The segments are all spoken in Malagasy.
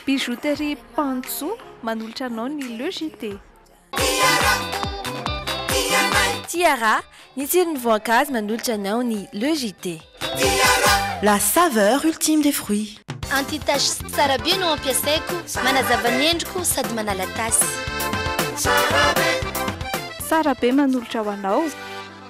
Bijouterie Panjo manolotra anao ny Le JT. Tiara, ny tsiron'ny voankazo manolotra anao ny Le JT. La saveur ultime des fruits. Anti tache tsara be no ampiasaiko, manazava ny endriko sady manala tasy. Tsara be manolotra ho anao.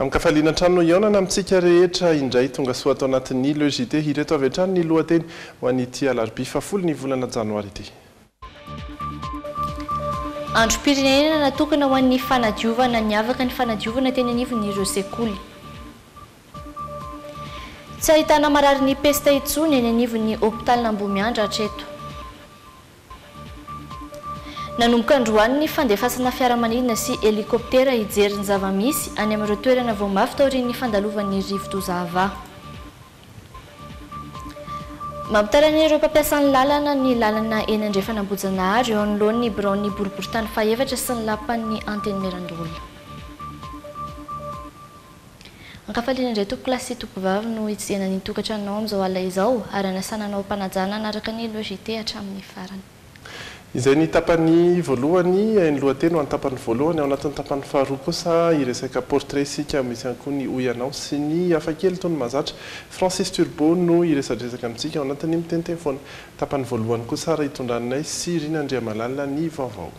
Amin-kafaliana hatrany no hihaonana amintsika rehetra indray. Tongasoa ato anatin'ny Le JT. Ireto avy hatrany ny lohateny ho an'ity alarobia fahafolo ny volana janoary ity. Androm-pirenena natokana ho an'ny fanadiovana, niavaka ny fanadiovana teny anivon'ireo sekoly. Tsy ahitana mararin'ny pesta intsony eny anivon'ny hopitalin'Ambohimiandra hatreto. Nanomboka androany ny fandefasana fiaramanidina sy helikoptera hijery ny zava-misy any amin'ireo toerana vao mafy taorian'ny fandalovan'ny rivodoza Ava. Mampitaraina ireo mpampiasa ny lalana ny lalana eny Andrefan'Ambohijanahary eo anoloan'ny biraon'ny boriboritany fahefatra sy ny lapan'ny Antenimierandoholona. Ankafaliana indray tompokolahy sy tompovavy no hitsijena ny tokantranonao amin'izao alina izao ary hanasana anao am-panajana hanaraka ny Loi JT hatramin'ny farany. Izay ny tapany voalohany, ny lohateny ho an'ny tapany voalohany. Ao anatin'ny tapany faharoa kosa hiresaka portrait isika, misy ihany koa ny Hoy ianao sy ny hafa kely toy ny Mahazatra. Francis Turbo no hiresadresaka amintsika ao anatin'ny Miteniteny foana. Tapany voalohany kosa ary hitondranay sy Rina Andriamalala ny vaovao.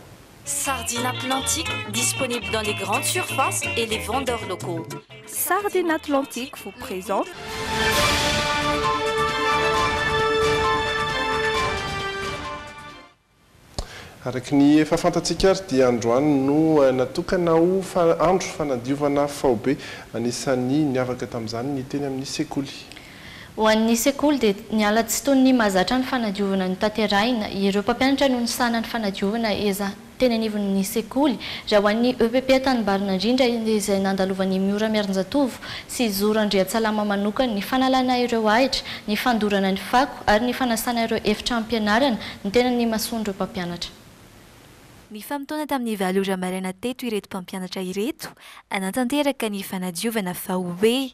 Sardine Atlantique disponible dans les grandes surfaces et les vendeurs locaux. Sardine Atlantique vous présente. Araka ny efa fantatsika ary dia androany no natokana ho andro fanadiovana faobe. Anisan'ny niavaka tamin'izany ny teny amin'ny sekoly. Ho an'ny sekoly dia niala tsy toy ny mahazatra ny fanadiovana notanterahina. Ireo mpampianatra no nisahana ny fanadiovana eza teny anivon'ny sekoly. Raha ho an'ny EPP Antanimbarinandrindra izay nandalovan'i Miora Miarinjatovo sy Zoro Andriantsalama manokana ny fanalana ireo ahitra, ny fandorana ny fako ary ny fanasana ireo efitram-pianarana no tena nimasoan'ireo mpampianatra. Nifamotoana tamin'ny valo ora maraina teto ireto mpampianatra ireto hanatanteraka ny fanadiovana fa hoe.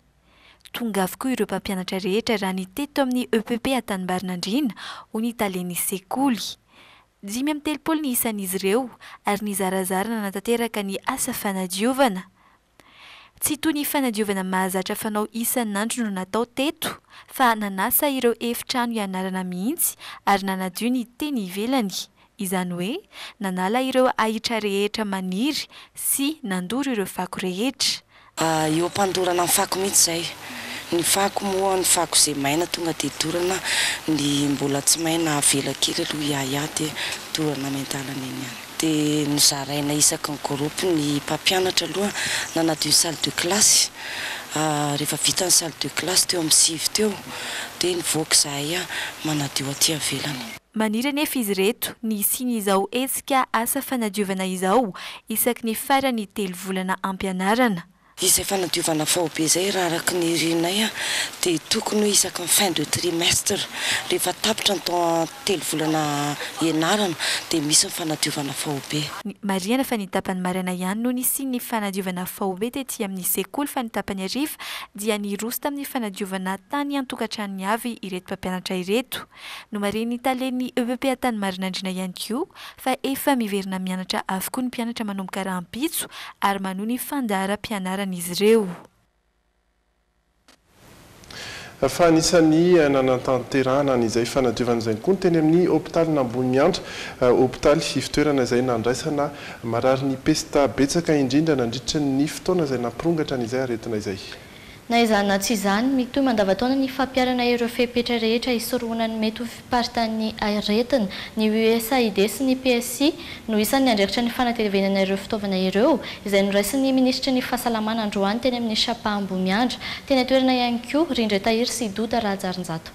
Tonga avokoa ireo mpampianatra rehetra raha ny teto amin'ny EPP Antanimbarinan-driana, hoy ny talen'ny sekoly. Dimy amby telopolo ny isan'izy ireo ary nizarazara nanatanteraka ny asa fanadiovana. Tsy toy ny fanadiovana mahazatra fanao isan'andro no natao teto fa nanasa ireo efitrano ianarana mihitsy ary nanadio ny teny ivelany, izany hoe nanala ireo ahitra rehetra maniry sy nandoro ireo fako rehetra. Eo am-pandorana ny fako mihitsy izay. Ny fako moa, ny fako izay maina tonga dia dorana, ny mbola tsy maina avela kely aloha hiahiahy dia dorana any an-dalana eny ihany. Dia nozaraina isaky ny groupe ny mpampianatra aloha nanadio ny salle de classe. Rehefa vita ny salle de classe teo amin'ny sivy teo dia nivoaka izahay manadio aty ivelany. Maniry anefa izy ireto ny hisian'izao hetsika asa fanadiovana izao isaky ny faran'ny telo volana ampianarana. Izay fanadiovana faobe izay raha araka ny renay dia tokony hoe isaky ny fin de trimestre, rehefa tapitra ny temps telo volana ianarana dia misy ny fanadiovana faobe. Marihana fa ny tapany maraina ihany no nisian'ny fanadiovana faobe tety amin'ny sekoly fa ny tapany hariva dia niroso tamin'ny fanadiovana tany an-tokantranony avy ireto mpampianatra ireto. Nomarihin'ny talen'ny EEPA tany Marinandriana ihany koa fa efa miverina mianatra avokoa ny mpianatra manomboka rahampitso ary manohy ny fandaharam-pianaran'izy ireo. Fa anisan'ny nanatanterahana an'izay fanadiovana izay koa ny teny amin'ny hopitalin'Amboniandra, hopitaly ivotoerana izay nandraisana marary ny pesta betsaka indrindra nandritra ny fotoana izay nampirongatra an'izay aretina izay. Na izany na tsy izany, mitohy mandavantaona ny fampiharana ireo fepetra rehetra hisorohana ny mety ho fiparitan'ny aretina. Ny USAID sy ny PSI no isan'ny andraikitra ny fanatevenana ireo fitaovana ireo, izay noraisin'ny minisitry ny Fahasalamana androany teny amin'ny Shapa Ambohimiandra. Teny an-toerana ihany koa, Rindray Tahiry sy Doda Rahajarinjato.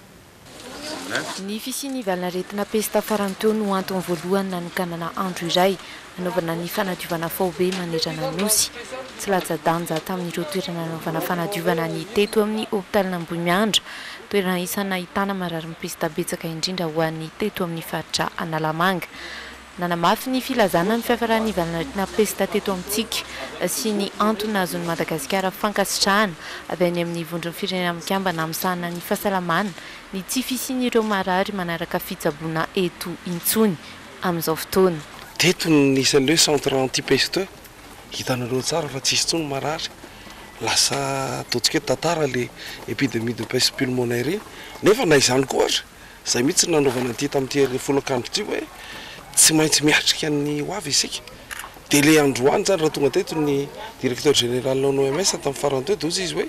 Ny fisian'ny valin'aretina pesta farany teo no antony voalohany nanokanana andro iray hanaovana ny fanadiovana faobe manerana ny Nosy. Tsy latsa-danja tamin'ireo toerana nanaovana fanadiovana ny teto amin'ny hopitalin'Ambohimiandra, toerana isan'ny nahitana mararin'ny pesta betsaka indrindra ho an'ny teto amin'ny faritra Analamanga. Nanamafy ny filazana ny fiafaran'ny valanaretina pesta teto amintsika sy ny antony nahazoan'i Madagasikara fankasitrahana avy any amin'ny Vondron'ny Firenena Mikambana misahana ny Fahasalamana ny tsy fisian'ireo marary manaraka fitsaboana eto intsony amin'izao fotoana. Teto no nisy an'ireo centre anti-peste, hitanareo tsara fa tsisy intsony marary, lasa ataontsika hoe tantara ilay epidemie de peste pulmonaire iny, nefa na izany koa aza, Izay mihitsy no nanaovana an'ity tamin'ity hery folakandro ity hoe tsy maintsy miatrika ny ho avy isika. Dia ilay androany izany raha tonga teto ny Directeur Général an'ny OMS tamin'ny farany teo dia hoy izy hoe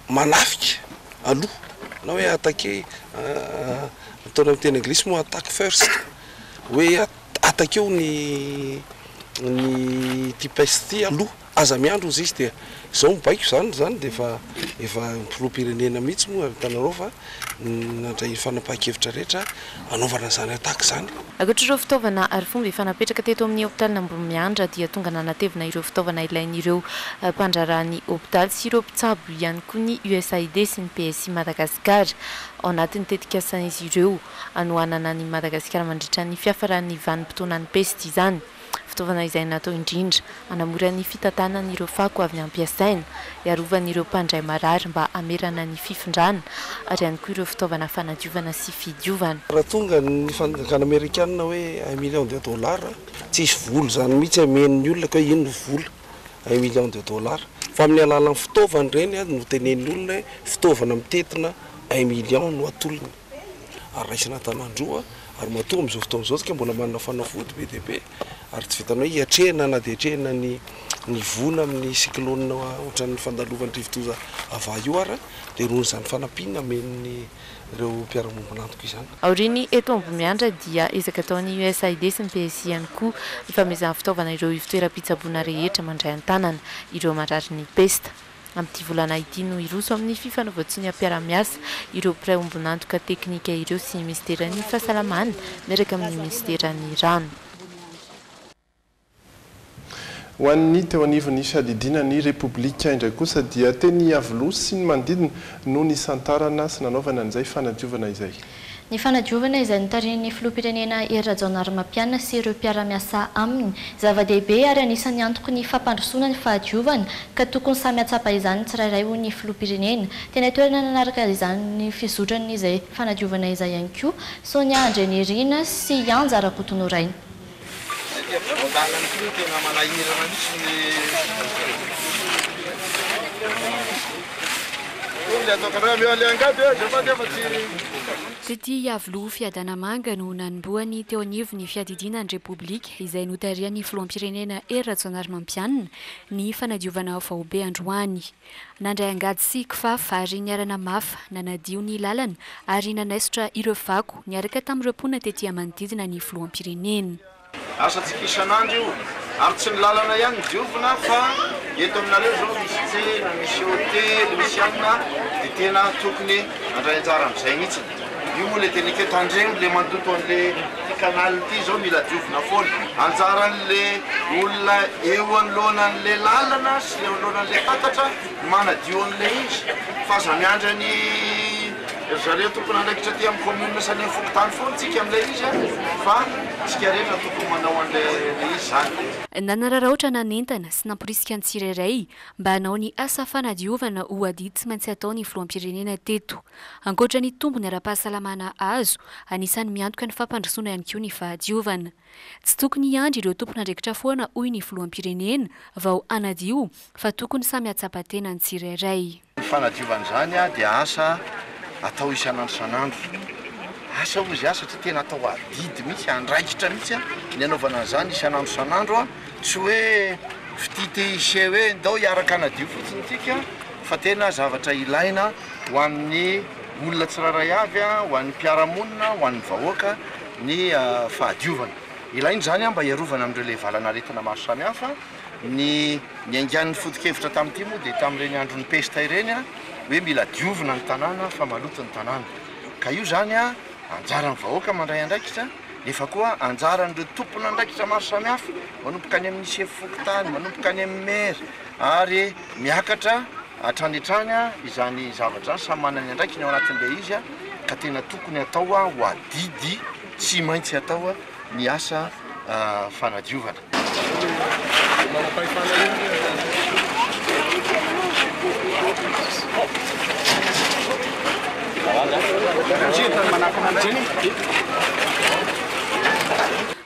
manafika aloha na hoe attaquer ataony amin'ny teny anglisy moa attack first hoe attaquer-o ny ity peste ity aloha. Aza miandry hozy izy dia izao mibaiko izany izany dia efa efa ny filoham-pirenena mihitsy moa hitanareo fa nandray ny fanapahan-kevitra rehetra hanaovana izany attaque izany. Ankoatra ireo fitaovana ary fomba efa napetraka teto amin'ny hopitalin'ny Ambohimiandra dia tonga nanatevina ireo fitaovana ilain'ireo mpandraharaha ny hopitaly sy ireo mpitsabo ihany koa ny USAID sy ny PSI Madagasikara ao anatin'ny tetikasan'izy ireo hanohanana an'I Madagasikara mandritra ny fiafaran'ny vanim-potoanan'ny pesta izany. fitaovana izay natao indrindra hanamora ny fitantanana ireo fako avy nampiasaina, hiarovana ireo mpandray marary mba hamerana ny fifindrana ary ihany koa ireo fitaovana fanadiovana sy fidiovana. Raha tonga ny fanjakana amerikana hoe un million de dollars, tsy hisy vola izany mihitsy hameno ny olona ka hoe inona vola un million de dollars fa amin'ny alalan'ny fitaovana ireny no tenenin'ny olona hoe fitaovana mitentina un million no atolony. ary raisina an-tanan-droa, ary matoa amin'izao fotoana izao isika mbola manana fanafody be dia be, ary tsy vitan'ny hoe hiatrehina na dia atrehina ny ny voina amin'ny cyclone ohatran'ny fandalovan'ny rivodoza ava io ara, dia noho izany fanampiana amen'ireo mpiara-miombon'antoka izany. Aorian'ny eto Ambohimiandra dia ezaka ataon'ny USAID sy ny PSI ihany koa ny fanomezana fitaovana ireo ivotoeram-pitsaboana rehetra mandray an-tanana ireo mararin'ny pesta. Amin'ity volana ity no hiroso amin'ny fifanaovan-tsoniam-piaraha-miasa ireo mpiray ombon'antoka teknika ireo sy ny minisiteran'ny Fahasalamana miaraka amin'ny minisiteran'ny Rano. Ho an'ny teo anivon'ny fiadidiana ny Repoblika indray kosa dia teny Iavoloha sy ny manodidina no nisantarana sy nanaovana an'izay fanadiovana izay. Ny fanadiovana izay notarihin'ny Filoham-pirenena Hery Rajaonarimampianina sy ireo mpiara-miasa aminy, zava-dehibe ary anisan'ny antoky ny fampandrosoana ny fahadiovana ka tokony samy hahatsapa izany ny tsirairay hoy ny Filoham-pirenena. Teny an-toerana nanaraka izany ny fizotran'izay fanadiovana izay ihany koa Sonia Andrianirina sy Yanja Rakotonorainy. Ity ampovoan-dalana ity no tena manahirana mihitsy ny olona ato an-tanàna. Eo aleha angady eo izao fa nefa tsy. Tsy ity hiavoloha Fiadanamanga no nanombohany teo anivon'ny fiadidiana ny Repoblika izay notarihan'ny Filoham-pirenena Hery Rajaonarimampianina ny fanadiovana faobe androany. Nandray angady sy kifafa ary niarana mafy nanadio ny lalana ary nanaisotra ireo fako niaraka tamin'ireo mponina tety a manodidina ny filoham-pirenena. Asantsika isan'andro io ary tsy ny lalana ihany no diovina fa eto aminareo izao misy tsena, misy hotely, misy anona dia tena tokony handray anjara amin'izay mihitsy. Io moa le tenika tandremo le mandoto anle ty canal ty zao mila diovina foana. Anjaranle olona eo anoloana anle lalana sy le eo anoloana anle tatatra ny manadio anle izy fa aza miandry any ry zareo tompon'andraikitra aty amin'ny commune sy any amin'ny fokontany foana tsika amle izy a fa tsika rehetra no tokony manao anle le izy zany. Nanararaotra nanentana sy namporisika ny tsirairay mba hanao ny asa fanadiovana ho adidy tsy maintsy ataon'ny filoham-pirenena teto Ankoatra ny tombony ara-pahasalamana azo, anisan'ny miantoka ny fampandrosoana ihany koa ny fahadiovana. Tsy tokony hiandry ireo tompon'andraikitra foana hoy ny filoham-pirenena vao hanadio fa tokony samy hahatsapa tena ny tsirairay. Ny fanadiovana izany dia asa atao isan'andro isan'andro. Asa hoy izy satria tena atao adidy mihitsy, andraikitra mihitsy ny hanaovana an'izany isan'andro isan'andro. Tsy hoe fitia te hiseho hoe ndao hiaraka hanadio fotsiny tsika fa tena zavatra ilaina ho an'ny olona tsirairay avy, ho an'ny mpiara-monina, ho an'ny vahoaka ny fahadiovana. Ilaina izany mba hiarovana amin'ireo lehivalana aretina maro samihafa. Ny niaingan'ny foto-kevitra tamin'ity moa dia tamin'ireny andron'ny pesta ireny hoe mila diovina ny tanàna fa maloto ny tanàna. Ka io izany. Anjaran'ny vahoaka mandray andraikitra, nefa koa anjaran'ireo tompon'andraikitra maro samihafa, manomboka any amin'ny sefo fokontany, manomboka any amin'ny maire, ary miakatra hatrany hatrany izany zavatra izany, samy manana ny andraikiny ao anatin'ilay izy, ka tena tokony atao ho adidy tsy maintsy atao ny asa fanadiovana.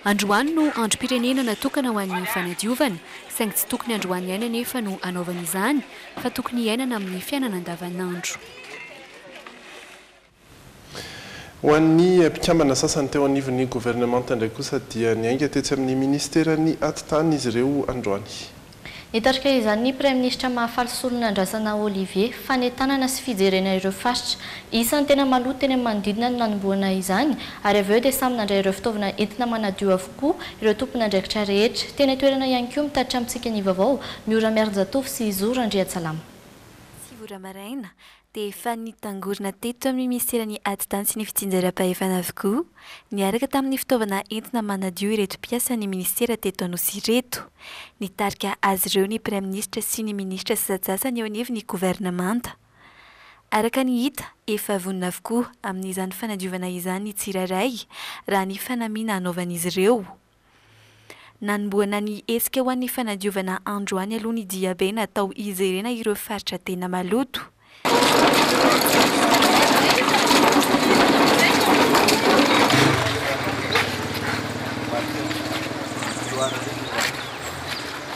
Androany no androm-pirenena natokana ho an'ny fanadiovana, saingy tsy tokony androany ihany anefa no hanaovana izany fa tokony hiainana amin'ny fiainana andavanandro. Ho an'ny mpikambana sasany teo anivon'ny governemanta indray kosa dia niainga tetsy amin'ny minisiteran'ny Atitany izy ireo androany. Nitarika izany ny praiminisitra Mahafaly Solonandrasana Olivier. Fanentanana sy fijerena ireo faritra isan'ny tena maloto teny amin'ny manodidina no nanombohana izany ary avy eo dia samy nandray ireo fitaovana entina manadio avokoa ireo tompon'andraikitra rehetra teny an-toerana ihany koa mitatitra amintsika ny vaovao Miora Miarinjatovo sy Zo Randriantsalama. Sivy ora maraina, dia efa nitangorona teto amin'ny minisiteran'ny Atidany sy ny Fitsinjaram-pahefana avokoa, niaraka tamin'ny fitaovana entina manadio ireto mpiasan'ny minisitera teto Anosy ireto. Nitarika azy ireo ny praiminisitra sy ny minisitra sasantsasany eo anivon'ny governemanta. Araka ny hita, efa vonona avokoa amin'izany fanadiovana izany ny tsirairay, raha ny fanamiana anaovan'izy ireo. Nanombohana ny hetsika ho an'ny fanadiovana androany aloha ny diabe natao hijerena ireo faritra tena maloto.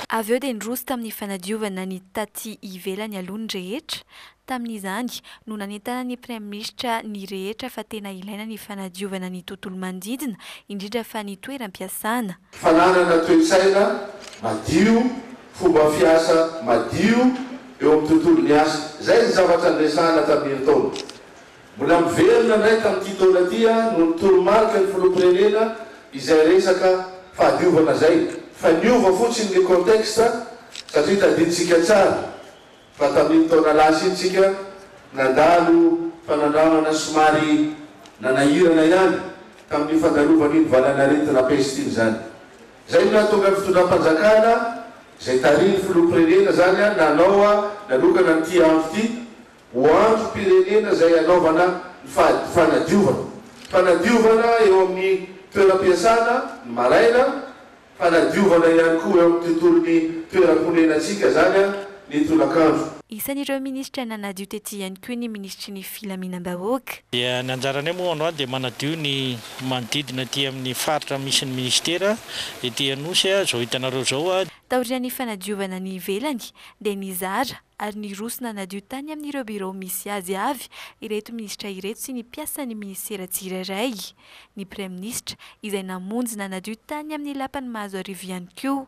Avy eo dia niroso tamin'ny fanadiovana ny taty ivelany aloha ny rehetra, Tamin'izany no nanentana ny Praiminisitra ny rehetra fa tena ilaina ny fanadiovana ny tontolo manodidina, indrindra fa ny toeram-piasana. Fananana toe-tsaina madio, fomba fiasa madio eo amin'ny tontolon'ny asa. Izay ny zavatra niresahana tamin'iny taona. Mbola miverina indray tamin'ity taona ity no ny toromarika ny Filoham-pirenena izay resaka fahadiovana izay fa niova fotsiny ny contexte satria tadidintsika tsara Fa tamin'iny taona lasa iny tsika nandalo fanandramana somary nanahirana ihany tamin'iny fandalovan'iny valan'aretina peste iny izany. Izay no nahatonga ny fitondram-panjakana izay tarihin'ny filoham-pirenena izany nanao nanokana an'ity andro ity ho androm-pirenena izay hanaovana ny fady fanadiovana fanadiovana eo amin'ny toeram-piasana ny maraina Fanadiovana ihany koa eo amin'ny tontolon'ny toeram-ponenantsika izany ny tolakandro. Isan'ireo minisitra nanadio tety ihany koa ny minisitry ny Filaminam-bahoaka. Dia ny anjaranay moa androany dia manadio ny manodidina aty amin'ny faritra misy ny minisitera ety Anosy izao hitanareo izao. Taorian'ny fanadiovana ny ivelany dia nizara. ary niroso nanadio tany amin'ireo birao misy azy avy ireto minisitra ireto sy ny mpiasan'ny minisitera tsirairay ny praiminisitra izay namonjy nanadio tany amin'ny lapan'i Mahazoarivo ihany koa.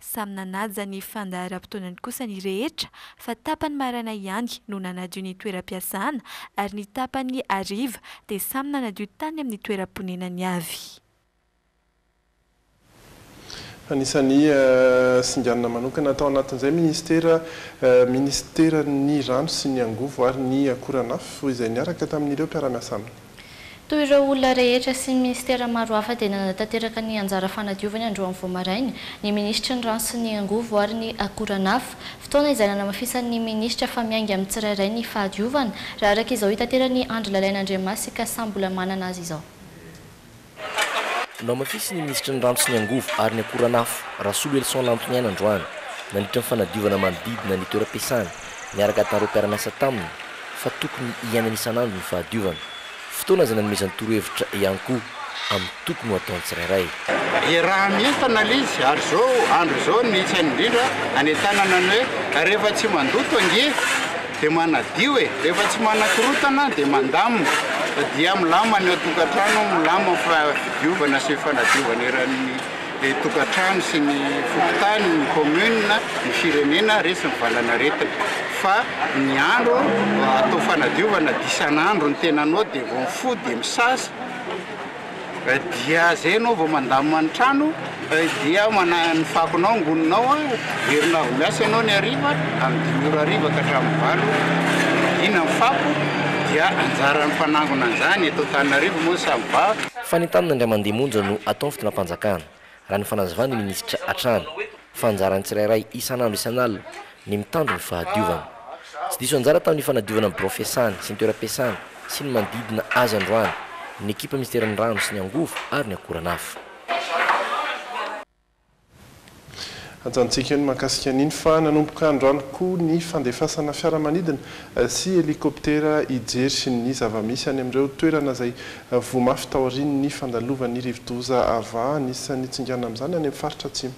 Samy nanaja ny fandaharam-potoanany kosa ny rehetra fa tapany maraina ihany no nanadio ny toeram-piasana ary ny tapany hariva dia samy nanadio tany amin'ny toeram-ponenany avy. Anisan'ny singanina manokana tao anatin'izay minisitera, minisiteran'ny Rano sy ny Angovo ary ny Akoranafo, izay niaraka tamin'ireo mpiara-miasa aminy. Toy ireo olona rehetra sy ny minisitera maro hafa dia nanatanteraka ny anjara fanadiovany androany vao maraina ny minisitry ny Rano sy ny Angovo ary ny Akoranafo, fotoana izay nanamafisan'ny minisitra fa miainga amin'ny tsirairay ny fahadiovana, raha araka izao itateran'i Andry Lalaina Andriamasika samy mbola manana azy izao. Namafisin'ny minisitry ny Rano sy ny Angovo ary ny Akoranafo, Rasoloelison Lantoniaina androany, nandritra ny fanadiovana manodidina ny toeram-piasany, niaraka tamin'ireo mpiara-miasa taminy, fa tokony hiainana isan'andro ny fahadiovana. Fotoana izay nanomezany torohevitra ihany koa amin'ny tokony ho ataon'ny tsirairay. Iaraha mientana le izy ary zao andro zao ny tsy hainy indrindra any an-tanana ny hoe rehefa tsy mandoto ange. Dia manadio e! Rehefa tsy manakorotana dia mandamina, dia milama ny ao tokantrano, milama fa diovana sy fanadiovana eran'ny tokantrano sy ny fokontany, ny commune, ny firenena resy ny valan'aretina. Fa ny andro atao fanadiovana dia isan'andro ny tenanao dia vao mifoha dia misasa. Dia zay enao vao mandamina ny trano dia manahy ny fakonao angoninao a, herinao avy miasa enao ny hariva amin'ny dimy ora hariva ka hatramin'ny valo ina ny fako dia anjaran'ny mpanangona an'izany eto Antananarivo moa ny samy ba. Fanentanana indray mandeha monja no atao ny fitondram-panjakana. Raha ny fanazavan'ny minisitra hatrany, fa anjaran'ny tsirairay isan'andro isan'alina ny mitandro ny fahadiovana. Tsy diso anjara tamin'ny fanadiovana ny birao fiasany sy ny toeram-piasany sy ny manodidina azy androany ny ekipa minisiteran'ny Rano sy ny Angovo ary ny Akoranafo. Antsointsika ny mahakasika an'iny fa nanomboka androany koa ny fandefasana fiaramanidina sy helikoptera hijery ny zava-misy any amin'ireo toerana izay Voa mafy taorian'ny fandalovan'ny rivodoza Ava. Anisan'ny tsingana amin'izany any amin'ny faritra Atsimo.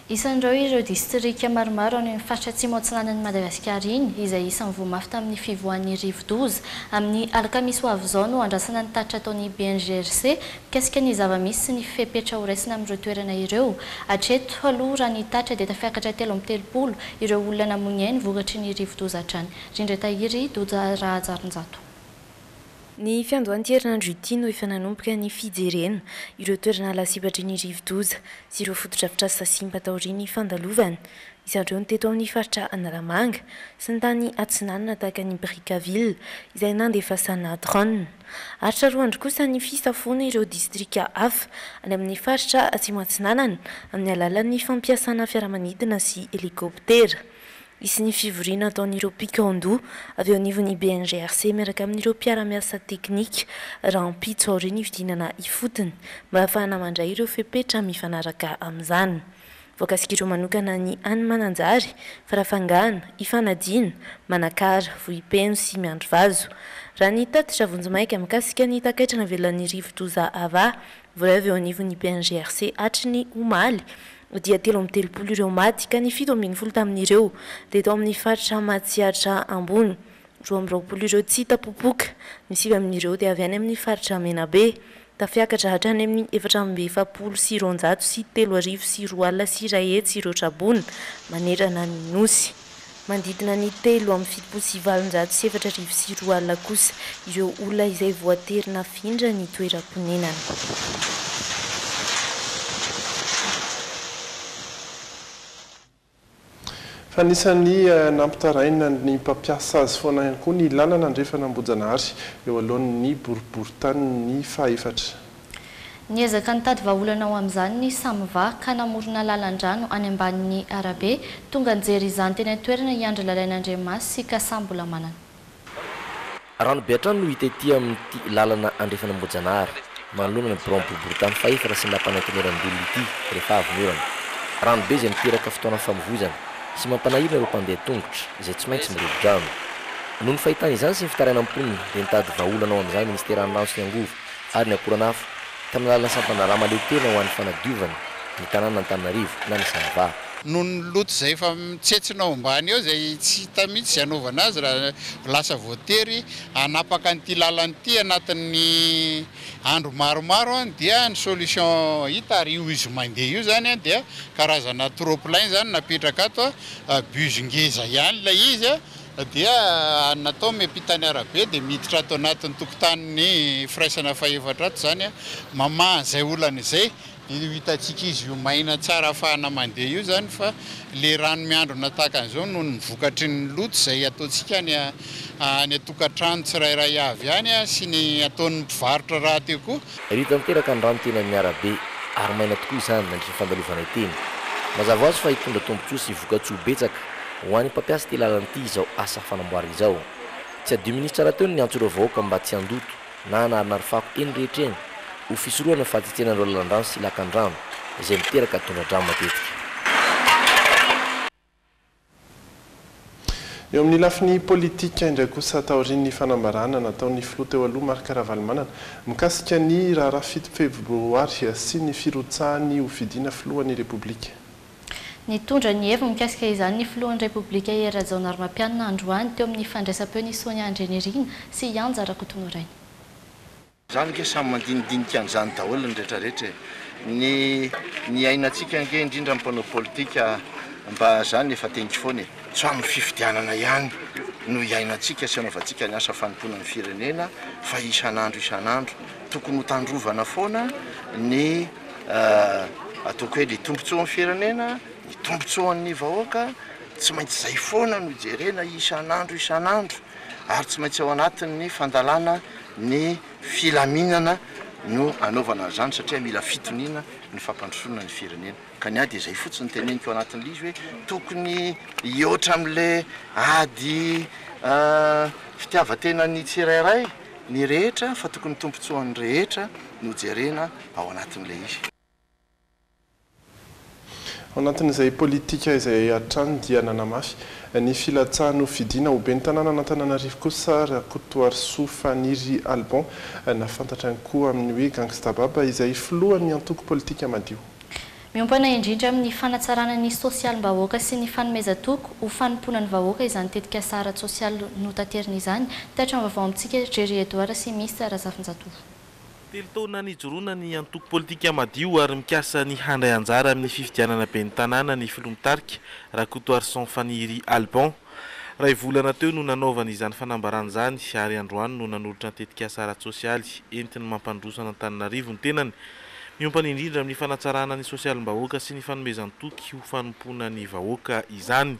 Isan'ireo ireo distrika maromaro any amin'ny faritra Atsimo Atsinanan'i Madagasikara iny, izay isan'ny voa mafy tamin'ny fivoahan'ny rivodoza. Amin'ny alakamisy ho avy izao no andrasana ny tatitra ataon'ny BNGRC mikasika ny zava-misy sy ny fepetra horaisina amin'ireo toerana ireo. Hatreto aloha raha ny tatitra dia tafiakatra telo amby telopolo ireo olona namoy ny ainy vokatry ny rivodoza hatrany. Rindra Tahiry, Doja Rahajarinjato. Ny fiandohan'ity herinandro ity no efa nanomboka ny fijerena ireo toerana lasibatry ny rivodoza sy ireo fotodrafitrasa simba taorian'ny fandalovana. Isan'ireo ny teto amin'ny faritra Analamanga sy ny tany atsinanana tahaka an'i Brickaville izay nandefasana drone. Aritra roa andro kosa ny fisafoana ireo distrika hafa any amin'ny faritra Atsimo Atsinanana amin'ny alalan'ny fampiasana fiaramanidina sy helikoptera. Hisy ny fivoriana ataon'ireo mpikaon-doha avy eo anivon'ny BNGRC miaraka amin'ireo mpiara-miasa teknika rahampitso aorian'ny fidinana ifotony mba hahafahana mandray ireo fepetra mifanaraka amin'izany. Voakasik'ireo manokana ny any Mananjary, Farafangana, Ifanadiana, Manakara, Vohipeno sy Miandrivazo. Raha ny tatitra vonjimaika mikasika ny takaitra navelan'ny rivo-doza Ava Vrv eo anivon'ny PNGRC hatry ny omaly dia telo amby telopolo ireo maty ka ny fito ambin'ny folo tamin'ireo dia tao amin'ny faritra Matsiatra Ambony. Roa amby roapolo ireo tsy hita popoka, ny sivy amin'ireo dia avy any amin'ny faritra Menabe. Tafiakatra hatrany amin'ny efatra amby efapolo sy roanjato sy telo arivo sy roa alina sy iray hetsy ireo traboina manerana ny Nosy. Manodidina ny telo amby fitopolo sy valonjato sy efatra arivo sy roa alina kosa ireo olona izay voatery nafindra ny toeram-ponenany. Fa anisan'ny nampitaraina ny mpampiasa azy foana ihany koa ny lalana andrefana Ambohijanahary eo alohan'ny boriborintany fahefatra. Niezaka nitady vahaolana ho amin'izany ny Samva ka namorona lalan-drano any ambanin'ny arabe. Tonga nijery izany teny an-toerana i Andry Lalainandriamaso sy Kasa Mbolamanana. Rano be hatrany no hita ety amin'ity lalana andrefana Ambohijanahary, manoloana ny biraon'ny boriborintany fahefatra sy ny lapan'ny antenierandoholona ity rehefa avy ny orana. Rano be izay miteraka fotoana famovoizana sy mampanahirana ireo mpandeha tongotra izay tsy maintsy mirobi-drano. Noho ny fahitana izany sy ny fitarainan'ny mponina dia nitady vahaolana ho amin'izany ny Minisiteran'ny rano sy ny angovo. ary ny akoranafo, tamin'ny alalan'ny sampana rà mahaleo tena ho an'ny fanadiovana ny tanànan'Antananarivo na ny Sanva. Noho ny loto izay efa mitsetsona ao ambany ao izay tsy hita mihitsy izay hanaovana azy raha lasa voatery hanapaka an'ity lalana ity anatin'ny andro maromaro dia ny solution hita ary io izy mandeha io izany dia karazana trop plein izany napetraka ato bus ngeza ihany ilay izy dia natao miampita ny arabe dia miditra ato anatin'ny tokotanin'ny firaisana fahefatra ato izany, mamaha izay olana izay, dia io hitantsika izy io maina tsara afahana mandeha io izany fa ilay rano miandrona tahaka an'izao noho ny vokatry ny loto izay ataontsika any an-tokantrano tsirairay avy any sy ny ataon'ny mpivarotra rahateo koa. Ery tanteraka ny rano teny amin'ny arabe, ary maina tokoa izany nandritra ny fandalovanay teny. Mazava ho azy fa hitondra tombontsoa sy vokatsoa betsaka ho an'ny mpampiasa ity lalana ity izao asa fanamboarana izao. Tsy adino minisitra rahateo ny niantso ireo vahoaka mba tsy handoto na hanarinary fako eny rehetra eny ho fisorohana ny fahatsetsenan'ireo lalan-drano sy lakan-drano izay miteraka tondra-drano matetika. Eo amin'ny lafiny politika indray kosa, taorian'ny fanambarana nataon'ny filoha teo aloha Marc Ravalomanana mikasika ny raharaha fito febroary sy ny firotsahany ho fidiana filohan'ny Repoblika. Nitondra ny heviny mikasika izany ny filohan'ny Repoblika Hery Rajaonarimampianina androany teo amin'ny fandraisam-peo ny Sonia Andrianirina sy Yanja Rakotoniraina. Izany ange samy mandinidinika an'izany daholo ny rehetra rehetra e! Ny ny iainantsika ange indrindra ny mpanao politika mba izany efa teniko foana e! Tsy amin'ny fifidianana ihany no iainantsika sy anaovantsika ny asa fanompoana ny firenena fa isan'andro isan'andro. Tokony ho tandrovana foana ny ataoko hoe ny tombotsoan'ny firenena, ny tombotsoan'ny vahoaka, tsy maintsy izay foana no jerena isan'andro isan'andro ary tsy maintsy ao anatin'ny fandalana Ny filaminana no anaovana an'izany satria mila fitoniana ny fampandrosoana ny firenena. Ka ny ahy dia izay fotsiny teneniko anatin'ilay izy hoe tokony hihoatra amin'ilay ady fitiavan-tenan'ny tsirairay ny rehetra fa tokony tombontsoan'ny rehetra no jerena ao anatin'ilay izy. Ao anatin'izay politika izay hatrany dia nanamafy ny filatsahany ho fidiana ho ben'ny tanànan'Antananarivo kosa Rakotoarisoa Faniry Alban na fantatra ihany koa amin'ny hoe Gangsta Baba izay filohan'ny antoko politika Madio. Miompana indrindra amin'ny fanatsarana ny sosialim-bahoaka sy ny fanomezan-toky ho fanompoana ny vahoaka izany tetikasa ara-tsosialy notaterina izany, Teatra ny vaovao amintsika, Jerry Edouard sy Mister Razafinjatovo. Telo taona nijoroana ny antoko politika Madio ary mikasa ny handray anjara amin'ny fifidianana ben'ny tanàna ny filoha mitarika, Rakotoarison Faniry Alban. Iray volana teo no nanaovany izany fanambarana izany ary androany no nanolotra ny tetikasa ara-tsosialy entiny mampandroso an'Antananarivo ny tenany, miompana indrindra amin'ny fanatsarana ny sosialim-bahoaka sy ny fanomezan-toky ho fanompoana ny vahoaka izany.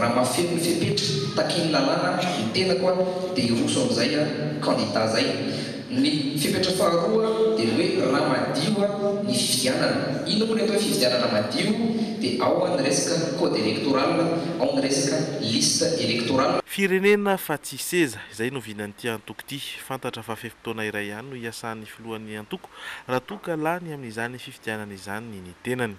Raha mahafeno ny fepetra takian'ny lalàna ny tenako dia hiroso amin'izay candidat zay. Ny fepetra faharoa dia ny hoe raha madio ny fifidianana. Inona moa ilay atao hoe fifidianana madio? Dia ao ny resaka code electoral, ao ny resaka liste electorale. Firenena fa tsy seza, izay no vinan'ity antoko ity. Fantatra fa fe-potoana iray ihany no hiasan'ny filohan'ny antoko raha toa ka lany amin'izany fifidianana izany ny tenany.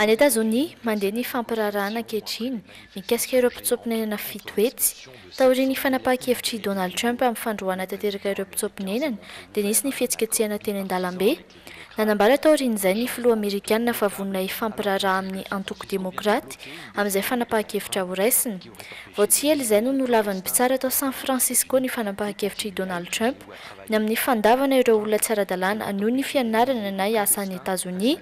Any Etazonia, mandeha ny fampiraharahana ankehitriny mikasika ireo mpitsoa-ponenana fito hetsy. Taorian'ny fanapahan-kevitr'i Donald Trump amin'ny fandroahana tanteraka ireo mpitsoa-ponenana, dia nisy ny fihetsiketsehana teny an-dalambe. Nanambara taorian'izay ny filoha amerikanina fa vonona hifampiraharaha amin'ny antoko demokraty amin'izay fanapahan-kevitra horaisina. Vao tsy ela izay no nolavan'ny mpitsara tao San Francisco ny fanapahan-kevitr'i Donald Trump ny amin'ny fandavana ireo olona tsy ara-dalàna hanohy ny fianarana na hiasa any Etazonia.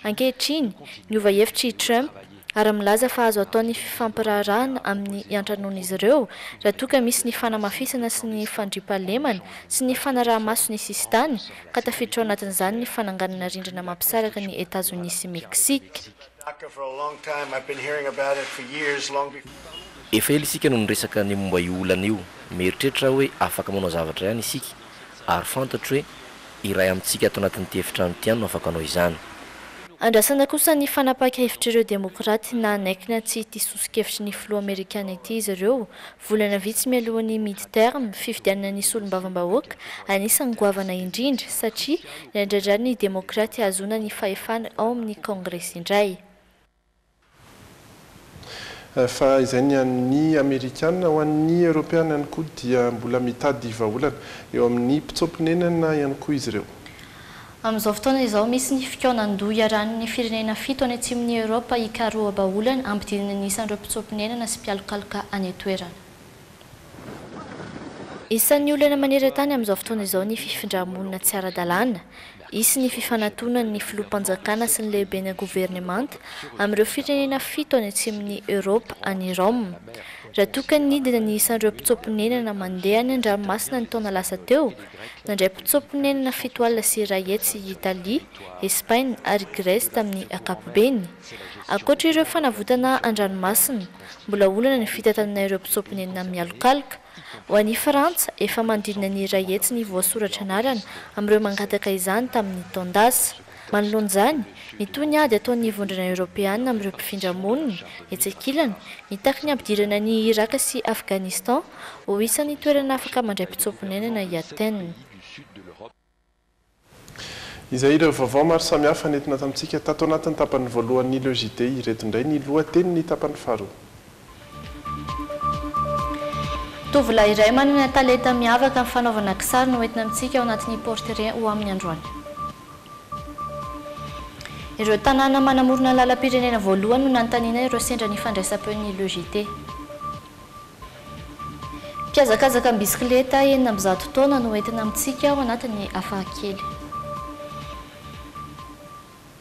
Ankehitriny, niova hevitra i Trump ary milaza fa azo atao ny fifampiraharahana amin'ny iantranoan'izy ireo raha toa ka misy ny fanamafisana sy ny fandriampahalemana sy ny fanaraha-maso ny sisintany ka tafiditra ao anatin'izany ny fananganana rindrina mampisaraka an'i Etazonia sy Meksika. Efa ela isika no niresaka ny momba io olana io. Mieritreritra aho hoe afaka manao zavatra ihany isika, ary fantatro hoe iray amintsika ato anatin'ity efitrano ity ihany no afaka hanao izany. Andrasana kosa ny fanapaka-hevitr'ireo demokraty nanaiky na tsia ity soso-kevitry ny filoha amerikana ity izy ireo, Volana vitsy mialoha ny mid-term, fifidianana ny solombavambahoaka, anisan'ny goavana indrindra satria nandradra ny demokraty hahazoana ny fahefana ao amin'ny kaongresy indray. Fa izay ny an'ny Amerikana. Ho an'ny Eoropeana ihany koa dia mbola mitady vahaolana eo amin'ny mpitsoa-ponenana ihany koa izy ireo. Amin'izao fotoana izao, misy ny fikaonan-doha iarahan'ny firenena fito any atsimon'i Eoropa hikaroha-baolana, hampidinina ny isan'ireo mpitsoa-ponenana sy mpialokaloka any an-toerana. Isan'ny olana maneran-tany amin'izao fotoana izao ny fifindrà-monina tsy ara-dalàna. Hisy ny fifanatonan'ny filoham-panjakana sy ny lehibena governemanta amin'ireo firenena fito any atsimon'i Eoropa any Rome. Raha toa ka nidina ny isan'ireo mpitsoa-ponenana mandeha any an-dranomasina ny taona lasa teo, Nandray potso-ponenana fito alina sy iray hetsy i Italia, Espaina ary Grèce tamin'ny ankapobeny. Ankoatra ireo fanavotana an-dranomasina, mbola olana ny fitantanana ireo potso-ponenana mialokaloka. Ho an'i Frantsa, efa manodidina ny iray hetsy ny voasoratra anarana amin'ireo mangataka izany tamin'ny taon-dasa. Manoloana izany, nitohy ny ady ataon'ny Vondrona Eoropeana amin'ireo mpifindra monina, etsy ankilany, nitaky ny hampidirana an'i Iràka sy Afghanistan ho isan'ny toerana afaka mandray mpitsoa-ponenana i Athènes. Izay ireo vaovao maro samihafa nentina tamintsika tato anatin'ny tapany voalohan'ny Le JT ireto indray ny lohatenin'ny tapany faharoa. Tovolahy iray manana talenta miavaka amin'ny fanaovana kisary no entina amintsika ao anatin'ny portrait ho amin'ny androany. Ireo tanàna manamorona ny lalam-pirenena voalohany no nanontaniana ireo sendra ny fandraisam-peon'ny Le JT. Mpihazakazaka am-bisikileta enina amby zato taona no entina amintsika ao anatin'ny hafakely.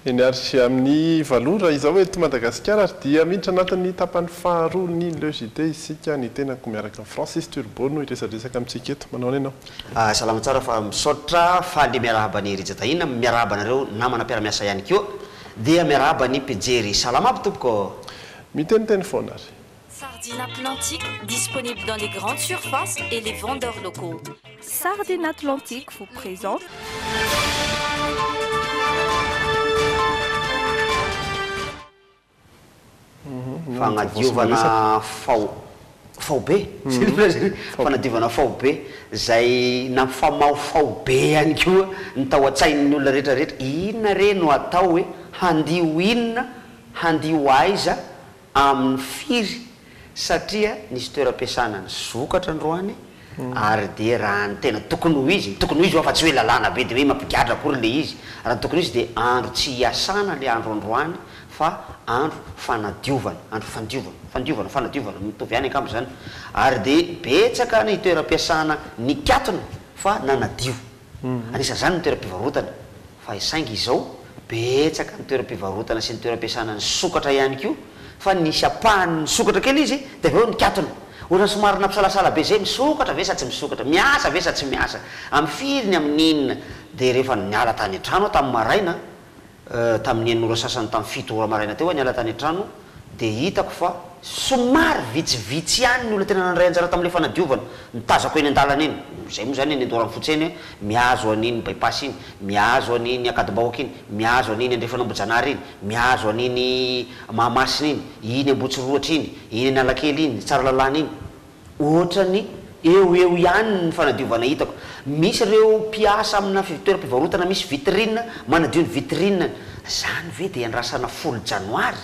Eny ary amin'ny valo ora izao eto Madagasikara ary dia miditra anatin'ny tapany faharoa ny Le JT isika, ny tenako miaraka amin'i Francis Turbo no hiresadresaka amintsika eto. Manao ahoana ianao? Salama tsara fa misaotra, faly miarahaba an'i Rija Tahina, miarahaba anareo namana mpiara-miasa ihany koa dia miarahaba ny mpijery. Salama aby tompoko ô! Miteniteny foana ary. Sardine Atlantique disponible dans les grandes surfaces et les vendeurs locaux. Sardine Atlantique vous présente. Fagnadiovana fao faobe mhm. fanadiovana faobe zay nampifamaho faobe ihany koa ny tao an-tsain'ny olona rehetrarehetra inona re no atao hoe handio inona handio aiza Amin'ny firy? Satria nisy toeram-piasana nisokatra androany ary dia raha ny tena tokony ho izy, ny tokony ho izy fa tsy hoe lalàna be dia hoe mampigadra akory ilay izy, raha ny tokony ho izy dia andro tsy hiasana ilay andro androany fa andro fanadiovana, andro fandiovana, fandiovana, fanadiovana, mitovy ihany angamba izany, ary dia betsaka ny toeram-piasana nikatona fa nanadio. Anisan'izany ny toeram-pivarotana fa saingy izao betsaka ny toeram-pivarotana sy ny toeram-piasana nisokatra ihany koa fa nisy ampahany nisokatra kely izy dia avy eo nikatona. Ohatrany somary nampisalasala be izay, misokatra ve sa tsy misokatra, miasa ve sa tsy miasa, amin'ny firy ny amin'ny inona dia rehefa niala tany an-trano aho tamin'ny maraina, Tamin'ny enina ora sasany tamin'ny fito ora maraina teo aho niala tany an-trano dia hitako fa somary vitsivitsy ihany ny olona tena nandray anjara tamin'ilay fanadiovana. Ny tazako eny an-dalana eny, izay moa izany eny Andoharanofotsy eny, mihazo an'iny Bypass iny, mihazo an'iny Ankadimbahoaka iny, mihazo an'iny Andrefana Ambohijanahary iny, mihazo an'iny Mahamasina iny, iny Ambohitsirohotra iny, iny Analakely iny, Tsaralalàna iny, Ohatrany eo ho eo ihany ny fanadiovana hitako. Misy ireo mpiasa amina toeram-pivarotana misy vitrine manadio ny vitrine-ny. Izany ve dia iandrasana folo janoary?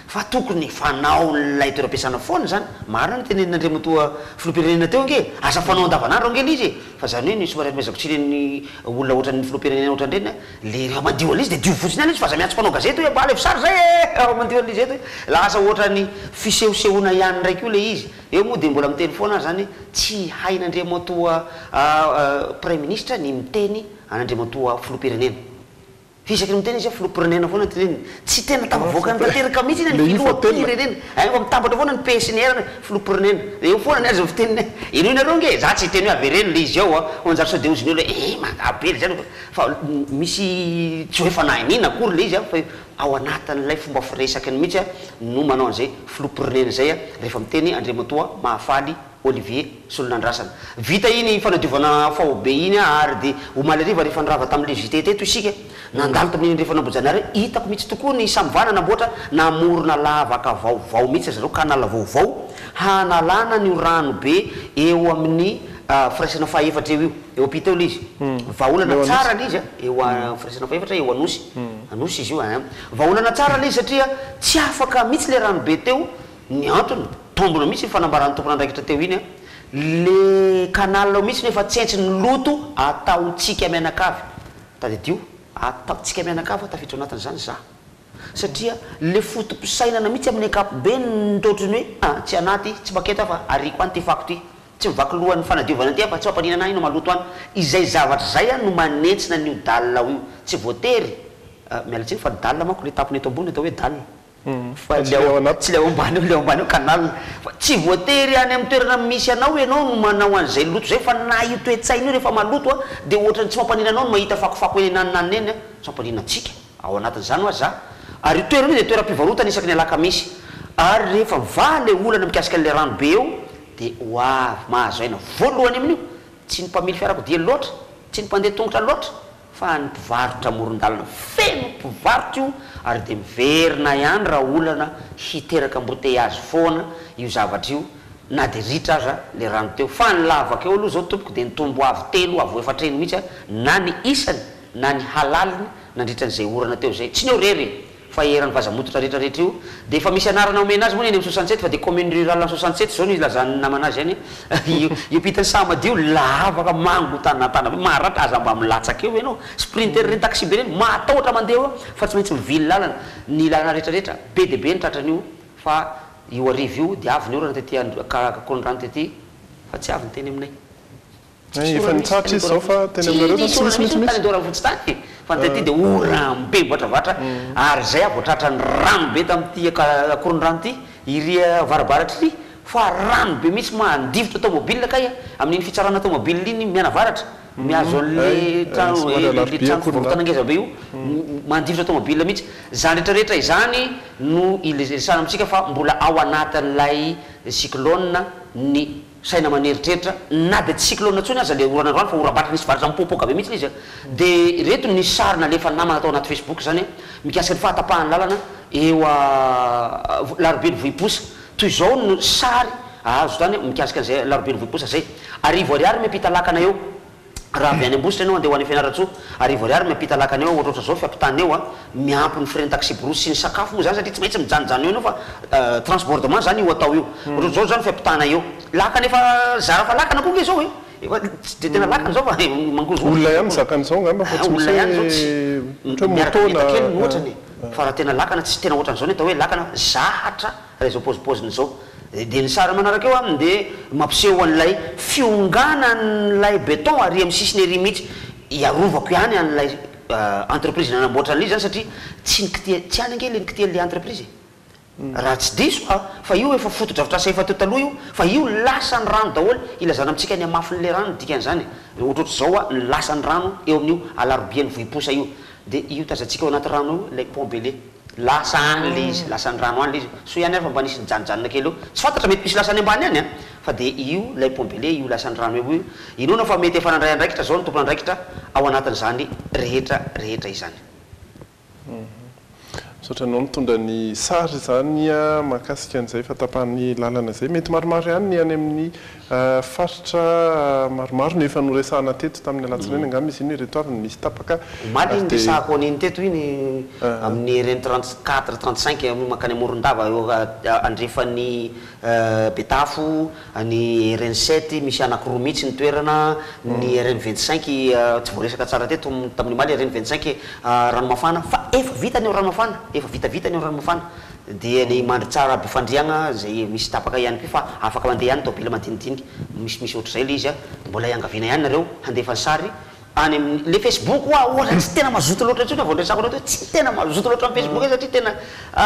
Fa tokony efa anaon'ilay toeram-piasana foana izany. Marina ny tenenin'Andriamatoa Filoham-pirenena teo ange. Aza fanao andavanandro ange ilay izy e! Fa izany hoe ny somariafahaizako tsy ireny olona ohatran'ny Filoham-pirenena ohatran'ireny an! Ilay raha mandio an'ilay izy dia dio fotsiny ihany ilay izy fa aza miantso mpanao gazety hoe ambala efisazy izay e! Raha mandio an'ilay izy eto e! Lasa ohatran'ny fisehosehoana ihany indray koa ilay izy. Eo moa dia mbola miteny foana ary izany tsy hain'Andriamatoa Praiminisitra ny miteny an'Andriamatoa Filoham-pirenena. Fa isaky ny miteny izy hoe Filoham-pirenena foana ny teneniny. Tsy tena tafavoakany tanteraka mihitsy anie ny Filoham-pirenena. Aingao fa mitambatra foana ny PSNR hoe Filoham-pirenena. Dia eo foana ny azy ny fiteniny hoe henoy nareo ange e! Izaho tsy hiteny hoe avereno ilay izy ao an! Hoy an'i Njato sao dia hoy izy ny olona hoe ee! Mangaha be ry zareo! Fa misy tsy ho efa nahay n'inona akory ilay izy an! Ao anatin'ilay fomba firesakany mihitsy no manao an'izay Filoham-pirenena izay rehefa miteny Andriamatoa Mahafaly Olivier Solonandrasana. Vita iny fanadiovana faobe iny ary dia omaly hariva rehefa nirava tamin'ilay JT teto isika, nandalo tamin'iny andrefana Ambohijanahary iny, hitako mihitsy tokoa ny samvana namboatra, namorona lavaka vaovao mihitsy ry zareo, canal vaovao hanalana an'io ranobe eo amin'ny firaisana faha efatra eo io. Eo ampita eo ilay izy. Vahaolana tsara ilay izy eo amin'ny firaisana fahefatra eo Anosy. Anosy izy io a. Vahaolana tsara ilay izy satria tsy afaka mihitsy ilay ranobe teo. Ny antony, tombina mihitsy iny fanambaran'ny tompon'andraikitra teo iny a. Ilay canal ao mihitsy no efa tsentsin'ny loto ataontsika mianakavy. Tadidio, ataontsika mianakavy aho tafiditra ao anatin'izany za. Satria ilay foto-pisainana mihitsy amin'ny ankapobeny no ohatran'ny hoe, ah, tsy anaty, tsy paketa aho fa ariako any ity fako ity. Tsy mivaky loha ny fanadiovana aty an fa tsy fampaniana anah ino maloto any. Izay zavatra izay an no manentsina an io dalle ao io. Tsy voatery, miala tsiny fa ny dalle manko le tapony eto ambony atao hoe dalle. Fa tsy le ao ambany eo, le ao ambany eo canal. Fa tsy voatery any am toerana misy anao ianao no manao an izay loto izay fa na io toe-tsaina io rehefa maloto an dia ohatrany tsy fampaniana anao ny mahita fakofako eny an anona eny an. Tsy fampaniana antsika ao anatin izany hoa za. Ary io toerana io dia toeram pivarotana isaky ny alakamisy. Ary rehefa mivaha le olana mikasika an le rano be eo Dia ho avy mahazo aina voalohany amin'io, tsy ny mpamily fiarakodia loatra, tsy ny mpandeha tongotra loatra, fa ny mpivarotra amoron-dalana. Feno mpivarotra io ary dia miverina ihany raha olana hiteraka amboteiazy foana io zavatra io na dia ritra aza le rano teo. Fa ny lavaka eo aloha zao tompoko dia nitombo avo telo avo efatra heny mihitsy na ny isany na ny halaliny nandritra an'izay orana teo izay. Tsy ny eo rery e! fa eran'ny vaza mototra rehetra rehetra io dia efa misy anarana omena azy moa ny any amin'ny Soixante-sept fa dia commune rurale any Soixante-sept izao no ilazan'ny namana azy any io pitan'ny saha madio lavaka mangotanatana be maharatra aza mba milatsaka eo ianao sprinter ireny taxibe ireny mahatahotra mandeha eo fa tsy maintsy mivily lalana ny lalana rehetra rehetra be dia be ny tratran'io fa io arivo io dia avy ny orana tety an-dRakorondrano tety fa tsy avy ny teny aminay. Tsisy ora mihitsy tany Andoravosy tany, tsy nisy ora mihitsy tany Andoravosy tany e, fa taty dia ora be mivoatravatra ary izay aho vao tratra ny rano be tamin'ity akorondrano ity, iry avarabaratra iry fa rano be mihitsy mandifotra tomobile kay a, amin'iny fitsarana tomobile iny mianavaratra, mihazo an'le trano e, le trano fivarotana ngeza be io, mandifotra tomobile mihitsy, izany rehetra rehetra izany no iresahana amintsika fa mbola ao anatin'ilay cyclone ny saina maneritreritra na dia tsy cyclone intsony aza ilay orana androany fa oram-bato nisy varatra mipoapoaka be mihitsy izy a! dia ireto ny sary nalefan'ny namana tao anaty facebook izany a! mikasika ny fahatapahan'ny lalana eo a! larobian'ny vohiposa toy izao no sary azo tany mikasika an'izay larobian'ny vohiposa izay, arivo ariary miampita lakana eo. Raha avy any Ambositra enao andeha ho any Fianarantsoa, arivo ariary miampita lakana eo ohatra ohatra zao fiampitana eo a, miampy ny frais-n'ny taxi-brousse sy ny sakafo moa zany satria tsy maintsy mijanojano eo enao fa transbordement zany io atao io. Ohatra ohatra zao zany fiampitana eo. Lakana efa zara fa lakana koa nge zao e! Efa tsy de tena lakana zao fa mangozohozo Olona ihany mizaka an'izao ngamba fa tsy misy hoe ohatra hoe moto na. Miaraka mihenjana kely no ohatrany e! Fa raha tena lakana tsy tena ohatran'izao ny atao hoe lakana, zahatra Raha izao paozipaoziny izao. Dia ny sary manaraka eo aminy dia mampiseho an'ilay fionganan'ilay beton ary amin'ny sisiny ery mihitsy. Hiarovako ihany an'ilay entreprise nanamboatra an'ilay izy izany satria tsy ny kitiha, tsy any ange ilay ny kitihan'ilay entreprise e. Raha tsy diso aho fa io efa fotodrafitrasa efa teo taloha io fa io lasan'ny rano daholo ilazana amintsika ny hamafin'ilay rano ny dikan'izany e. Dia ohatrohatry izao hoa ny lasan'ny rano eo amin'io alarobia ny vohiposa io dia io tazantsika ao anaty rano io ilay pont Bele. Lasa any le izy, lasan'ny rano any le izy, soa ihany ary fa mba nisy nijanojanona kely eo, tsy fantatra mety misy lasa any ambany any an! fa de io lay pont be le io lasan'ny rano eo io, inoana fa mety efa nandray andraikitra zao ny tompon'andraikitra ao anatin'izany rehetra rehetra izany. Misaotra anao nitondra ny sary izany mahakasika an'izay fa tapahan'ny lalana izay, mety maromaro ihany ny any amin'ny Faritra maromaro no efa noresahana teto tamin'ny alatsinainy angamba izy iny, ireto avy no misy tapaka. Omaly iny resahako an'iny teto iny, amin'ny RN trente quatre, trente cinq mankany Morondava eo andrefan'i Betafo, ny RN sept misy anankiroa mihitsy ny toerana, ny RN vingt cinq tsy voaresaka tsara teto tamin'ny omaly, RN vingt cinq Ranomafana, fa efa vita ny ao Ranomafana, efa vitavita ny ao Ranomafana, Dia ny mandry tsara aby fandriagna zay misy tapaka ihany koa fa afaka mandeha ihany taobila madinidinika misimisy ohatr'izay le izy a, mbola iangaviana ihany nareo handefa ny sary any amin'ny le facebook hoa ohatra tsy tena mazoto loatra intsony vao niresako anao teo tsy tena mazoto loatra amin'ny facebook e satria tena a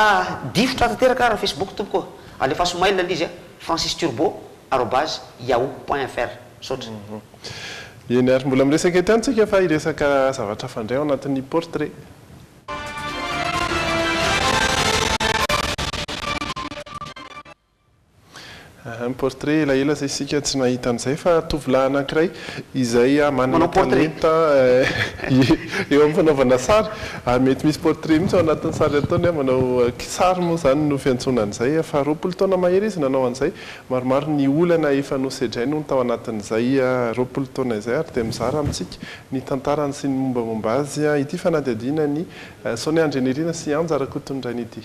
difotra tanteraka ary ny facebook tompoko ô! alefaso mail aloha izy a francis turbo arobase yahoo point fr misaotra. Eny ary, mbola miresaka ety an-tsika fa hiresaka zavatra fandray ao anatin'ny portrait. Portrait elaela zay isika tsy nahita an'izay fa tovolahy anankiray izay manana talenta eo amin'ny fanaovana sary ary mety misy portrait mihitsy ao anatin'ny sary ataony a, manao kisary moa izany no fiantsoana an'izay, efa roapolo taona mahery izy nanao an'izay, maromaro ny olana efa nosedrainy hono tao anatin'izay roapolo taona izay ary dia mizara amintsika ny tantarany sy ny mombamomba azy ity fanadihadiana an'i Sonia Andrianirina sy Anja Rakotoniraina ity.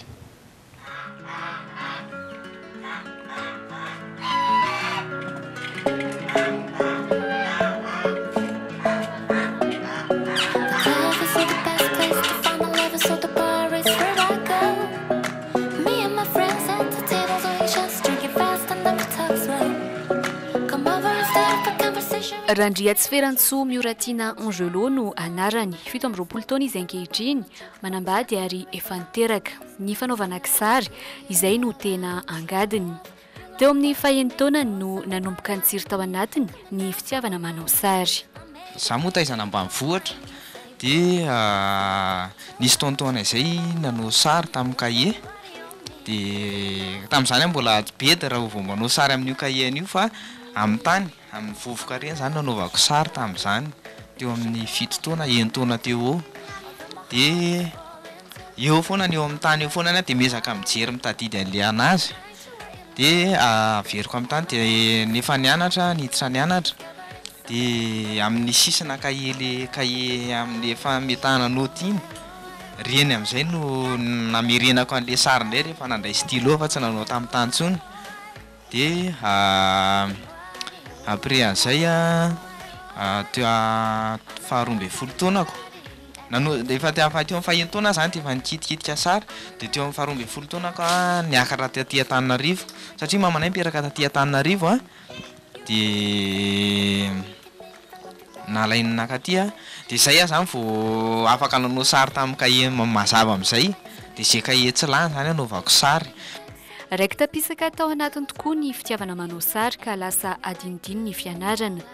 Randriatsiferantsoa Mioratiana Angelo no anarany. Fito amby roapolo taona izy ankehitriny, manambady ary efa niteraka. Ny fanaovana kisary, izay no tena angadiny. Teo amin'ny fahenitaonany no nanomboka nitsiry tao anatiny ny fitiavana manao sary. Izaho moa taizana ambanivohitra Dia nisy tonton-nay izay nanao sary tamin'ny kahie, dia tamin'izany aho mbola ady be dia raha vao manao sary amin'io kahie an'io fa amin'ny tany, amin'ny vovoka ireny izany no anaovako sary tamin'izany, teo amin'ny fito taona, enin-taona teo ho eo. Dia eo foana ny eo amin'ny tany eo foana ny ahy dia miezaka mijery mitadidy an'ilay an'azy. dia averiko amin'ny tany dia nefa nianatra niditra nianatra dia amin'ny sisina kahie le kahie amin'ny efa ametahana naoty iny ireny amin'izay no namerenako an'ilay sary indray rehefa nandray stylo aho fa tsy nanao tamin'ny tany intsony dia après an'izay a teo faharoa ambin'ny folo taonako Nano, efa te hahafaha teo amin'ny faheno taona aho izany dia efa nikitikitika sary, dia teo amin'ny faharoa ambin'ny folo taonako aho niakatra taty Antananarivo, satria mamanay niteraka taty Antananarivo an, dia nalainy nakaty an, dia izay aho izany vao afaka nanao sary tamin'ny kahie mazava amin'izay, dia izay kahie tsy lany izany anaovako sary. Raiki-tampisaka tao anatiny tokoa ny fitiavana manao sary ka lasa adinodino ny fianarana.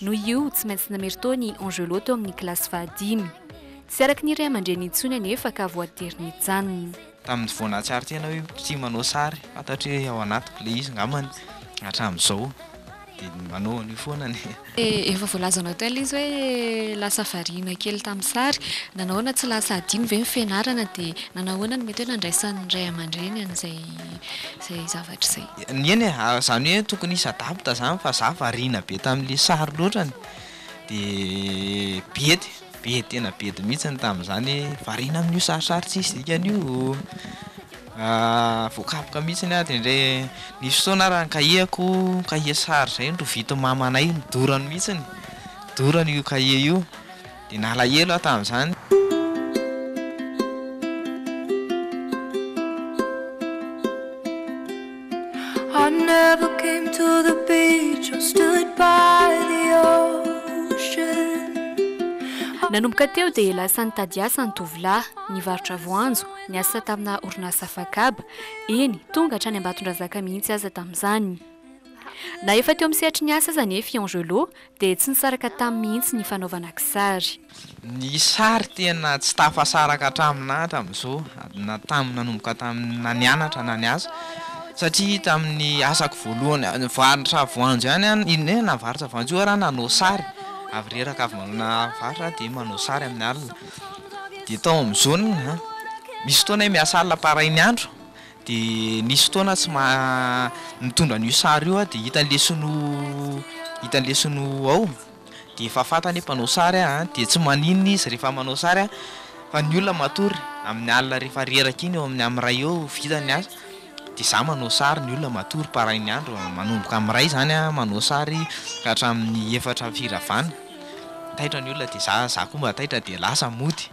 Noho io, tsy maintsy nameritaho ny Angeloto amin'ny kilasy fahadimy. Tsy araka ny ray aman-dreniny intsony anefa ka voatery nijanona. Tamin'ny vao nahatsiaro tena hoe tia manao sary, fantatro hoe ao anatiko ilay izy angambany, hatramin'izao dia manao an'io foana ny. Efa voalazanao teo ilay izy hoe lasa variana kely tamin'ny sary. Nanahoana tsy lasa hadino ve ny fianarana dia nanahoana no mety hoe nandraisan'ny ray aman-dreny an'izay zavatra izay? Eny e, ary zany hoe tokony hisy adapte zany fa za variana be tamin'le sary loatrany de bedy, bedy tena bedy mihitsiny tamin'izany hoe variana amin'io sarisary tsisy dikany io voakapoka mihitsiny aho de ndre nisy fotoana ary ny cahier-ko, cahier sary zay norovitin'i mamanay nodorany mihitsiny, dorany io cahier io. dia nalahelo aho tamin'izany. I never came to the beach or stood by the ocean. Nanomboka teo dia lasa nitady asa ny tovolahy, nivarotra voanjo, niasa tamina orinasa fakaba, eny, tonga hatrany Ambatondrazaka mihitsy aza tamin'izany. Na efa teo amin'ny sehatry ny asa aza anie Fiangelot, dia tsy nisaraka taminy mihitsy ny fanaovana kisary. Ny sary tena tsy tafasaraka hatramin'ny naha hatramin'izao, na tamin'ny nanomboka tamin'ny na nianatra na niasa, satria tamin'ny asako voalohany nivarotra voanjo ihany aho, iny hoe navarotra voanjo io ary aho nanao sary, avy reraka avy manao navarotra aho dia manao sary amin'ny alina, dia tao amin'ny zone, misy fotoana hoe miasa alina par ahinyandro, Dia nisy fotoana aho tsy maha, mitondra an'io sary io aho dia hitany lesy no, hitany lesy no ao, dia efa fantany hoe mpanao sary aho an, dia tsy maninona izy rehefa manao sary an, fa ny olona matory amin'ny alina rehefa reraka iny eo amin'ny amin'ny iray eo vita ny asa, dia za manao sary, ny olona matory parain'ny andro, manomboka amin'ny iray zany aho manao sary ka hatramin'ny efatra firavana, taitra ny olona dia za, za koa mba taitra dia lasa mody.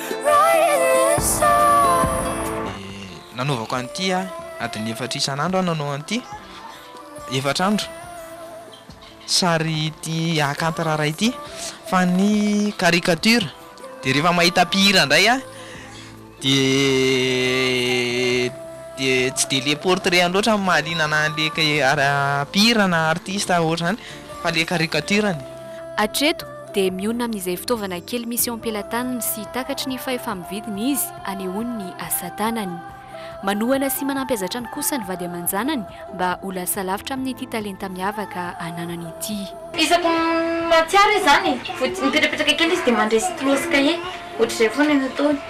Nanaovako an'ity adiny efatra isan'andro aho nanao an'ity efatra andro sary ity akanty raharaha ity fa ny caricature de rehefa mahita mpihira indray aho de de tsy de le portrait loatra no mahaliana ana le mpihira na artiste ohatr'izany fa le caricature-ny. Hatreto dia mionona amin'izay fitaovana kely misy eo am-pelatanany sy takatry ny fahefa-mividiny izy hanehoany ny asa tanany. Manohana sy manampy azy hatrany kosa ny vady aman-janany mba ho lasa lavitra amin'ity talenta miavaka ananany ity. Isaky ny mahatsiaro izany, vody mipetrapetraka kely izy dia mandre stylo sy kahie, ohatr'izay foana ny ataony.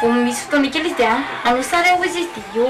Vao misy fotoana kely izy dia, Anao sary aho, hoy izy dia eo.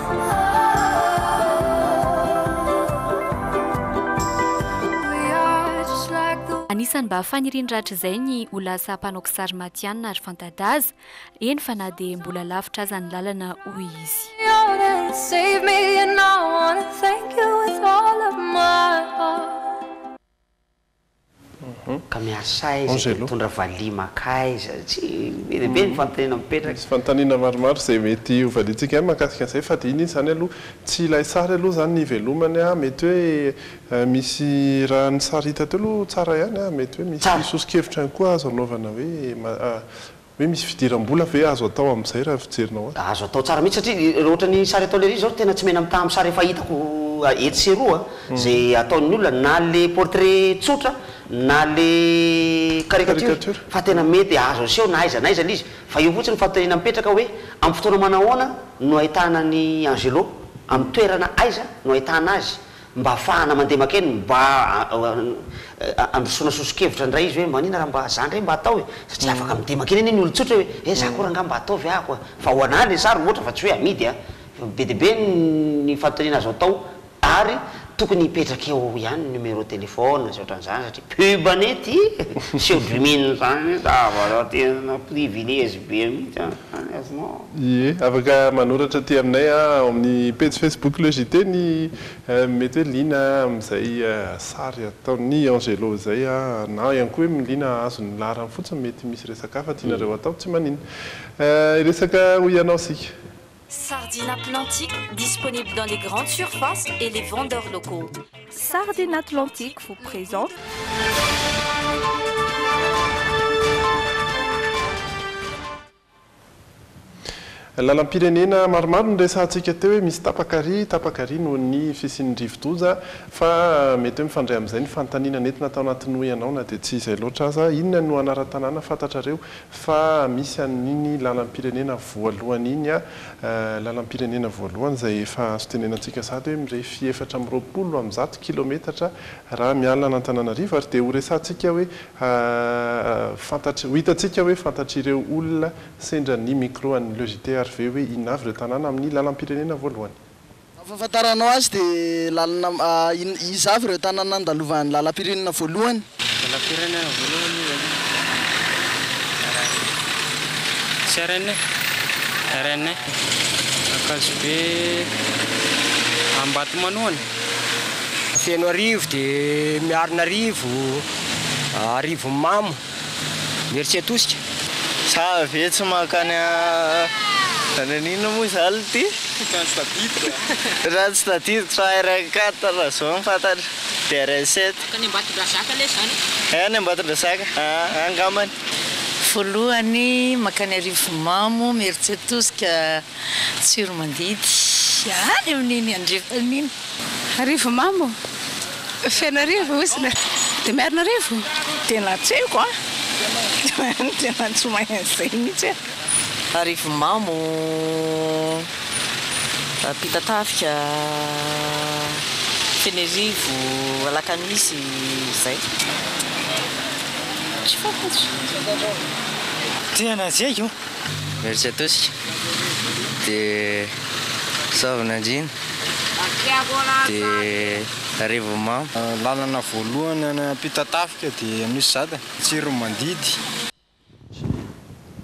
Anisan'ny mba faniriany rahatrizay ny ho lasa mpanao kisary matihanina ary fanta-daza, eny fa na dia mbola lavitra aza ny lalana, hoy izy. ka miasa aiza dia mitondra valiha mankaiza? Tsy be dia be ny fanontaniana mipetraka. Misy fanontaniana maromaro izay mety ho valiantsika ihany mahakasika an'izay fa dia iny izy izany aloha tsy ilay sary aloha izany ny ivelomany an! mety hoe misy raha ny sary hita teo aloha tsara ihany an! mety hoe misy soso-kevitra ihany koa azo anaovana hoe Hoe misy fidiram-bola ve azo atao amin'izay raha ny fijerinao azy? Azo atao tsara mihitsy satria raha ohatra ny sary ataon'i Hery zao tena tsy mena mitaha amin'ny sary efa hitako etsy sy eroa izay ataon'ny olona na le portrait tsotra na le caricature fa tena mety azo aseho na aiza na aiza le izy fa eo fotsiny ny fanontaniana mipetraka hoe amin'ny fotoana manahoana no ahitana an'i Angelo? Amin'ny toerana aiza no ahitana azy? Mba hahafahana mandeha maka eny, mba handrosoana soso-kevitra indray izy hoe manina raha mba za indray mba atao e! satria afaka midemaka eny anie ny olon-tsotra hoe eh za koa rangaha mba ataovy ahako a! fa ho anah ilay sary ohatra fa tsy hoe amidy a! be dia be ny fanontaniana azo atao ary tokony hipetraka eo ihany ny numéro téléphone sy ohatran'izany satria pub anie ity e! seho-drimina izany anie zavatra tena privilège be mihitsy an! Ie, afaka manoratra aty aminay ao amin'ny pejy Facebook Le JT ny mety hoe liana amin'izay sary ataon'i Angelo izay na ihany koa hoe liana hahazo ny laharany fotsiny mety misy resaka hafa tianareo hatao, tsy maninona. Hiresaka ho ianao isika. Sardine atlantique disponible dans les grandes surfaces et les vendeurs locaux. Sardine atlantique vous présente. Lalam-pirenena maromaro no resahantsika teo hoe misy tapaka ary tapaka ary noho ny fisian'ny rivo-doza fa mety hoe mifandray amin'izay ny fanontaniana nentina tao anatin'ny Hoy Ianao na dia tsy izay loatra aza, inona no anaran-tanàna fantatrareo fa misy an'iny lalam-pirenena voalohany iny a lalam-pirenena voalohany izay efa azo tenenantsika sahady hoe mirefy efatra amby roapolo amin'ny zato kilometatra raha miala an'Antananarivo ary dia ho resahantsika hoe Fa fantatr, ho hitantsika hoe fantatr'ireo olona sendra ny micro an'ny Le JTR ve hoe inona avy ireo tanàna amin'ny lalam-pirenena voalohany? Raha ny fahafantaranao azy dia lalana in, iza avy ireo tanàna nandalovan'ny lalam-pirenena voalohany? Lalam-pirenena voalohany iza aloha? Tsy haiko. Rn e. Rn e. Ankazobe, Ambatomanohana? Fenoarivo dia Miarinarivo. Arivomamo, Imeritsiatosika. Sa ve tsy mankany any an'inona moa izany ity? Ratsy tadidy a! Ratsy tadidy fa RN quatre raha izao no fantatra, dia RN sept. Any Ambatondrazaka lé zany e! Any Ambatondrazaka, ah, angambany. Voalohany, mankany Arivomamo, Imeritsiatosika. Tsiromandidy, any amin'iny andrefana iny. Arivo mamo, Fenoarivo, Osina, dia Miarinarivo. Tena tsy haiko an! Tena tsy mahay an'izay mihitsy aho. Arivo mamo, Ampitatafika, Fenerivo, Alakamisy, izay. Tsy fantatro. Tena tsy haiko. Merci à tous de soave Nandrina de Revo Mamo. Lalana voalohany any Ampitatafika dia Anosizato, Tsiromandidy.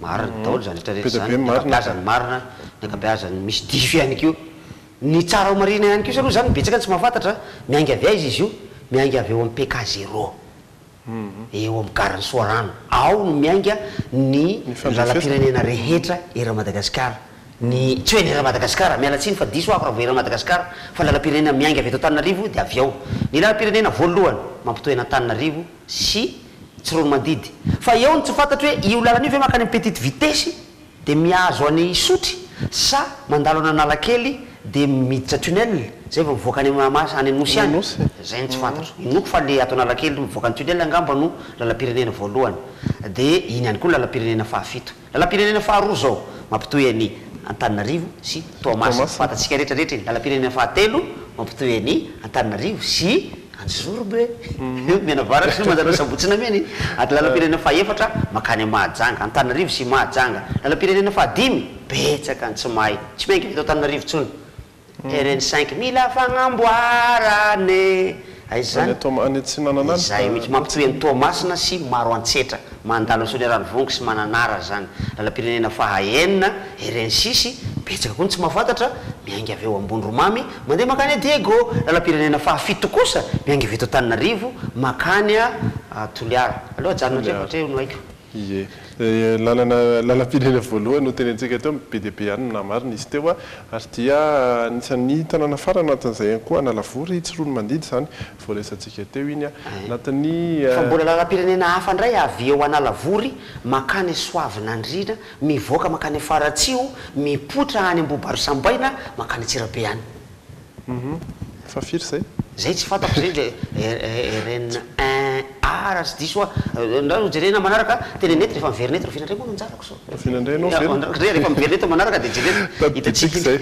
Marina daholo izany rehetra rehetra izany, ny ankabeazany marina, ny ankabeazany misy diso ihany koa. Ny tsara ho marihina ihany kosa aloha izany betsaka ny tsy mahafantatra, miainga avy aiza izy io? Miainga avy ao amin'ny PK zéro. eo amin'ny garan'i Soarano. Ao no miainga ny lalam-pirenena rehetra eran'i Madagasikara. Ny, tsy hoe ny eran'i Madagasikara, miala tsiny fa diso aho raha vao eran'i Madagasikara, fa ny lalam-pirenena miainga avy eto Antananarivo dia avy ao. Ny lalam-pirenena voalohany mampitohy an'Antananarivo sy Tsiroanomandidy. Fa eo no tsy fantatro hoe io lalana io ve mankany amin'ny petite vitesse? Dia mihazo any Isotry sa mandalo any Analakely dia miditra tunnel zay vao mivoaka any Mahamasina any Anosy any? Anosy e. Zay no tsy fantatro. Inoako fa le ato Analakely mivoaka ny tunnel angamba no lalam-pirenena voalohany. Dia iny ihany koa ny lalam-pirenena fahafito. Lalam-pirenena faharoa zao mampitohy any Antananarivo sy Toamasina. Toamasina. Fantatsika rehetra rehetra iny. Lalam-pirenena fahatelo mampitohy any Antananarivo sy. Any Zorba e! Mianavaratra sy Manjanaha Sabotsy Nameny ary lalam-pirenena fahefatra mankany am Mahajanga, Antananarivo sy Mahajanga. Lalam-pirenena fahadimy betsaka any tsy mahay, tsy miainga eto Antananarivo intsony. RN cinq mila fagnamboarana e! Aiza Any izany? Toama, any Atsinanana any fa Izay mihitsy, mampitohy an'i Toamasina sy Maroantsetra, mandalo an'i Soaniararivongo sy Mananara izany. Lalam-pirenena faha enina, RN six, betsaka koa ny tsy mahafantatra, miainga avy eo Ambondromamy, Mandeha mankany a Diego, lalam-pirenena faha fito kosa miangivy eto Antananarivo mankany a Toliara. Aleo ajanona hatreo fa hatreo no haiko. Ie. Lalana, lalam-pirenena voalohany notenenintsika teo, be dia be ihany no namarina izy teo ary dia anisan'ny tanàna farany anatin'izay ihany koa Analavory, Tsiroanomandidy izany voaresantsika teo iny anatin'ny. Fa mbola lalam-pirenena hafa indray avy eo Analavory mankany Soavinandriana. Mivoaka mankany Afaratsiho, mipoitra any Ambohibarosambaina mankany Antsirabe any. Hum fa firy zay? Zay tsy fantako zay ndry RN a raha tsy diso aho. Ndao ho jerena manaraka teny net rehefa miverina eto. Ravinandray moa no anjarako zao. Ravinandray anao ve? Ndao rehefa miverina eto manaraka dia jerena. Tadidiantsika izay.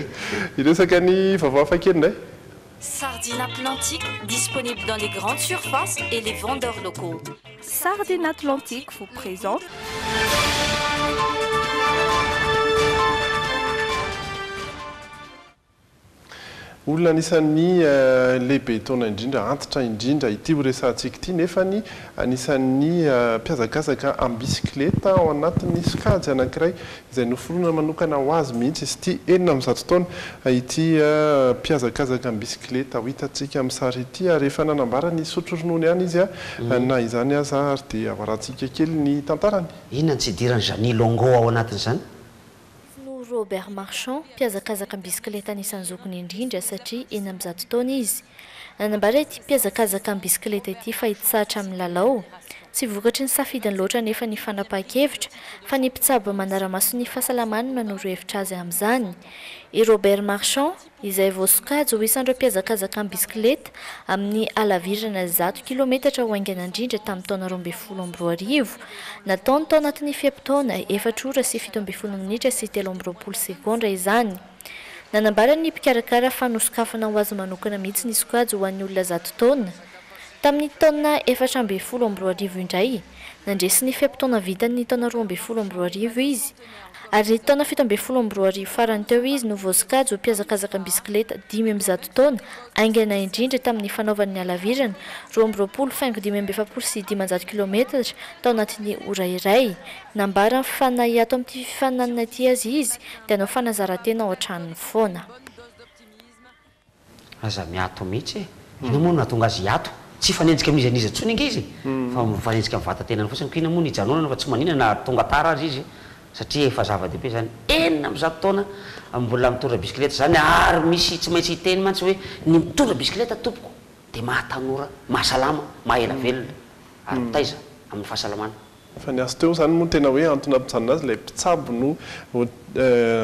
Hiresaka ny vaovao hafakely indray. Sardine Atlantique disponible dans les grandes surfaces et les vendeurs locaux. Sardine Atlantique vous présente. Olona anisan'ny lehibe taona indrindra, antitra indrindra ity ho resahantsika ity nefany anisan'ny mpihazakazaka am-bisikileta ao anatin'ny sokajy anankiray izay noforonina manokana ho azy mihitsy izy ity, enina amin'ny zato taona, ity mpihazakazaka am-bisikileta ho hitantsika amin'ny sary ity ary efa nanambara ny hisotro ronono ihany izy na izany aza ary dia avarantsika kely ny tantarany. Inona no tsy idiran'i Jeanny Longo ao anatin'izany? Izy no Robert Marchand, mpihazakazaka am-bisikileta anisan'ny zokiny indrindra satria enina amby zato taona izy. Nanambara ity mpihazakazaka am-bisikileta ity fa hitsahatra amin'ny lalao, Tsy vokatry ny safidiny loatra anefa ny fanapahan-kevitra, fa ny mpitsabo manara-maso ny fahasalamany no hanoro hevitra azy amin'izany. I Robert Marchand, izay voasokajy ho isan'ireo mpihazakazaka am-bisikileta amin'ny halavirana zato kilaometatra ho haingana indrindra tamin'ny taona roa ambin'ny folo amby roa arivo, nataony tao anatin'ny fe-potoana efatra ora sy fito ambin'ny folo minitra sy telo amby roapolo segondra izany. Nanambara ny mpikarakara fa nosokafana ho azy manokana mihitsy ny sokajy ho an'ny olona zato taona. Tamin'ny taona efatra ambin'ny folo amby roa arivo indray, nandresy ny fe-potoana vitany ny taona roa ambin'ny folo amby roa arivo izy, ary ny taona fito ambin'ny folo amby roa arivo farany teo izy no voasokajy ho mpihazakazaka am-bisikileta dimy amby zato taona haingana indrindra tamin'ny fanaovany ny halavirana roa amby roapolo faingo dimy amby efapolo sy dimanjato kilometatra tao anatin'ny ora iray. Nambara ny fifaninana hiato amin'ity fifaninanana ity azy izy dia hanao fanazaran-tena ao an-tranony foana. Aza miato mihitsy e! Inona moa no nahatonga azy hiato? Tsy hifanenjika amin'iza n'iza intsony ange izy fa mifanenjika amin'ny vatan-tenany fotsiny. Koa inona moa no hijanonana fa tsy manina na tonga tara aza izy satria efa zava-dehibe izany. Enina amby zato taona mbola mitondra bisikileta izany ary misy tsy maintsy hiteny mantsy hoe ny mitondra bisikileta tompoko dia mahatanora, mahasalama, maha ela velona ary mitaiza amin'ny fahasalamana. Fa ny azy teo, izany moa no tena hoe antony nampijanona azy, ilay mpitsabo no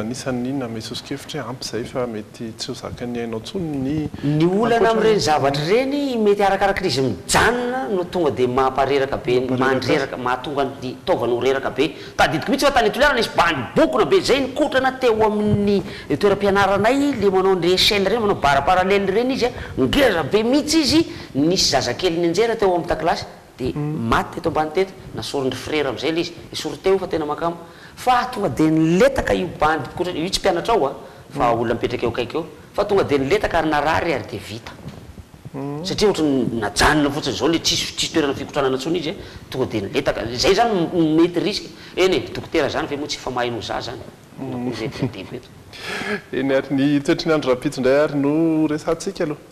anisan'ny nanome soso-kevitra hoe ampy izay fa mety tsy ho zakan'ny ainao intsony ny ankoatra. Ny olana amin'ireny zavatra ireny mety arakaraka ilay izy mijanona no tonga dia mampareraka be, mandreraka, mahatonga ny taovany ho reraka be. Tadidiko mihitsy fa tany Toliara nisy bandy bokona be izay nikotrana teo amin'ny toeram-pianaranay, ilay manao an'ireny échelle ireny, manao barre parallèle ireny izy an, ngeza be mihitsy izy, nisy zazakely nianjera teo amin'ny takilasy. Dia maty teto ambany teto, nasorin-dry frera amin'izay ilay izy, esory teo fa tena makamo, fa tonga dia niletaka io bandy mpikotrana, io tsy mpianatra ao a, fa olona mipetraka eo akaiky eo, fa tonga dia niletaka ary narary ary dia vita. Satria ohatran'ny najanona fotsiny izao ilay tsisy tsisy toerana fikotranana intsony izy a, tonga dia niletaka, izay izany no no mety risque, eny e, dokotera izany ve moa tsy efa mahay noho za izany? Inona koa izay diadiako eto. Eny ary, ny toetry ny andro rahampitso indray ary no resahantsika aloha.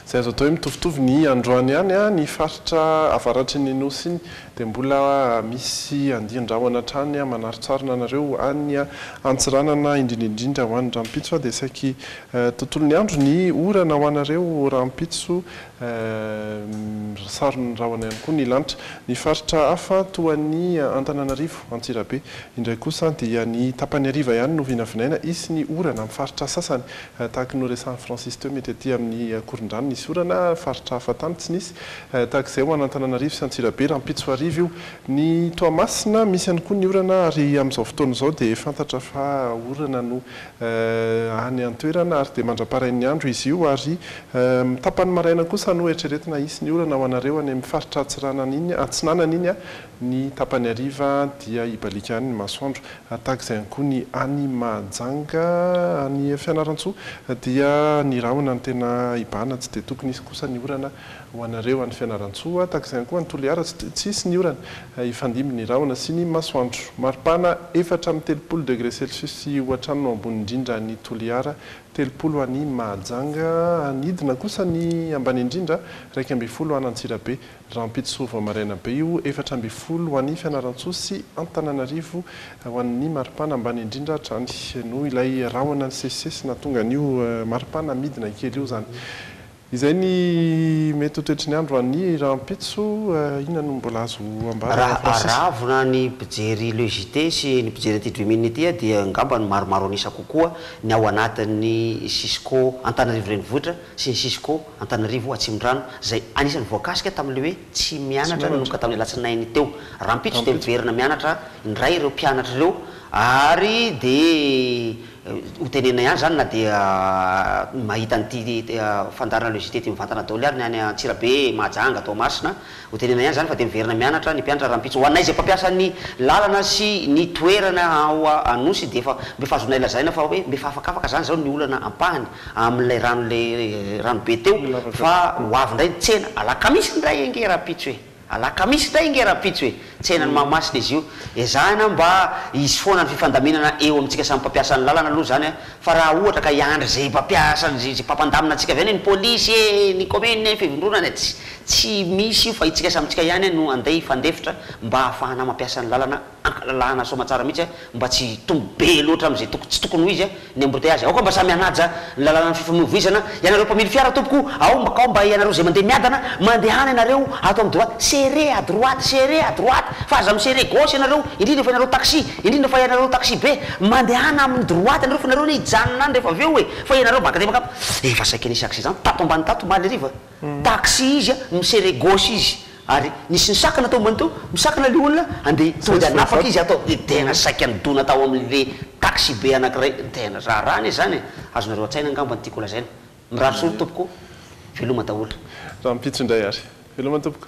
Izay azo atao hoe mitovitovy ny androany ihany, ny faritra avaratry ny Nosy iny dia mbola misy andian-drahona hatrany manaritsarina anareo any Antsiranana, indrindra indrindra ho any rahampitso dia saiky tontolon'ny andro ny orana ho anareo rahampitso Eehh saron ny rahona ihany koa ny lanitra. Ny faritra hafa toa ny Antananarivo, Antsirabe, indray kosa dia ny tapany hariva ihany no vinavinaina hisy ny orana amin'ny faritra sasany. Tahaky ny noresahin'i Francis teo mety aty amin'ny Ankorondrano nisy orana, faritra hafa tany tsy nisy. Tahaka izay ho an'Antananarivo sy Antsirabe rahampitso hariva io. Ny Toamasina misy ihany koa ny orana ary amin'izao fotoana izao dia fantatra fa orana no any an-toerana ary dia mandra-parain'ny andro izy io ary amin'ny tapany maraina kosa no eritreretina hisy ny orana ho anareo any amin'ny faritra atsiranana iny, atsinanana iny, ny tapany hariva dia hibaliaka any ny masoandro tahaka izay ihany koa ny any Mahajanga, any Fianarantsoa dia ny rahona no tena hibahana tsy dia tokony hisy kosa ny orana Ho anareo any Fianarantsoa, tahaka izany koa any Toliara, tsy tsy hisy ny orana. Hifandimby ny rahona sy ny masoandro. Maripana efatra amby telopolo degré celsius sy ho hatrany no ambony indrindra any Toliara, telopolo any Mahajanga. Hanidina kosa ny ambany indrindra, iraika ambin'ny folo any Antsirabe. Rahampitso vao maraina be io, efatra ambin'ny folo ho any Fianarantsoa sy Antananarivo ho an'ny maripana ambany indrindra hatrany. Noho ilay rahona nisesisesy nahatonga an'io maripana midina kely io izany. Izay ny mety ho toetry ny andro any rahampitso, inona no mbola azo ambara Raha Francis? aravona ny mpijery Le JT sy ny mpijery ity Dreaminn ity aho dia angamba ny maromaro an'isa kokoa ny ao anatin'ny Cisco Antananarivo Renivohitra sy ny Cisco Antananarivo Atsimondrano izay anisan'ny voakasika tamin'ilay hoe tsy mianatra nanomboka tamin'ny alatsinainy teo. Rahampitso dia miverina mianatra indray ireo mpianatra ireo ary dia Ho tenenina ihany izany na dia mahita an'ity fandaharana le JT ity mivantana daholo ary ny any Antsirabe, Mahajanga, Toamasina. Ho tenenina ihany izany fa dia miverina mianatra ny mpianatra rahampitso. Ho anay izay mpampiasa ny lalana sy ny toerana ao Anosy dia efa mba efa azonay lazaina fa hoe mba efa afakafaka izany izao ny olana ampahany amin'ilay rano le ranobe teo fa ho avy indray ny tsena alakamisy indray ange rahampitso e! Alakamisy tay nge rahampitso e! Tsenan'i Mahamasina izy io. Ezahina mba hisy foana ny fifandaminana eo amintsika samy mpampiasa ny lalana aloha izany fa raha ohatra ka hiandry izay mpampiasa izay mpampandamina antsika avy any ny polisy e, ny kaominina e, ny fivondronana e, tsy misy io fa itsika samy itsika ihany no andeha hifandefitra mba hahafahana mampiasa ny lalana. Lalana soamatsara mihitsy mba tsy hitombo be loatra amin'izay tokony tsy tokony ho izy ny embouteillage, aoka mba samy hanaja ny lalanan'ny fifamoivoizana ianareo mpamily fiara tompoko o, aoka mba ianareo izay mandeha miadana mandehana ianareo ato amin'ny droite, serrez à droite, serrez à droite fa aza mi-serrer gauche ianareo, indrindra fa ianareo taxi, indrindra fa ianareo taxi be, mandehana amin'ny droite ianareo fa ianareo anie hijanona any rehefa avy eo e, fa ianareo baka dia baka, efa saika nisy accident tato ambany tato omaly hariva. Taxi izy mi serrer gauche izy ary nisy nisakana tao ambany tao, misakana le olona andeha tonga de hanafaka izy ato de tena saika nidona tao amle taxi be anakiray, tena raharaha anie zany e, azonareo antsaina angamba ny tiako lazaina, mirary soa ry tompoko, veloma daholo. Rahampitso indray ary. Veloma tompoko.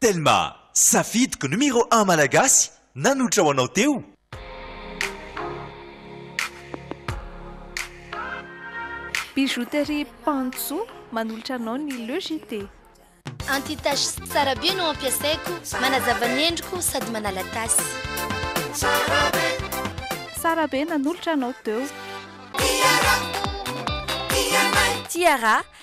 Telma, safidiko numéro un malagasy nanotra ho anao teo. Bijouterie Panjo manolotra anao ny Le JT. Anti tache Sarabe no ampiasaiko, manazava ny endriko sady manala tasy. Sarabe nanolotra anao teo. Tiara,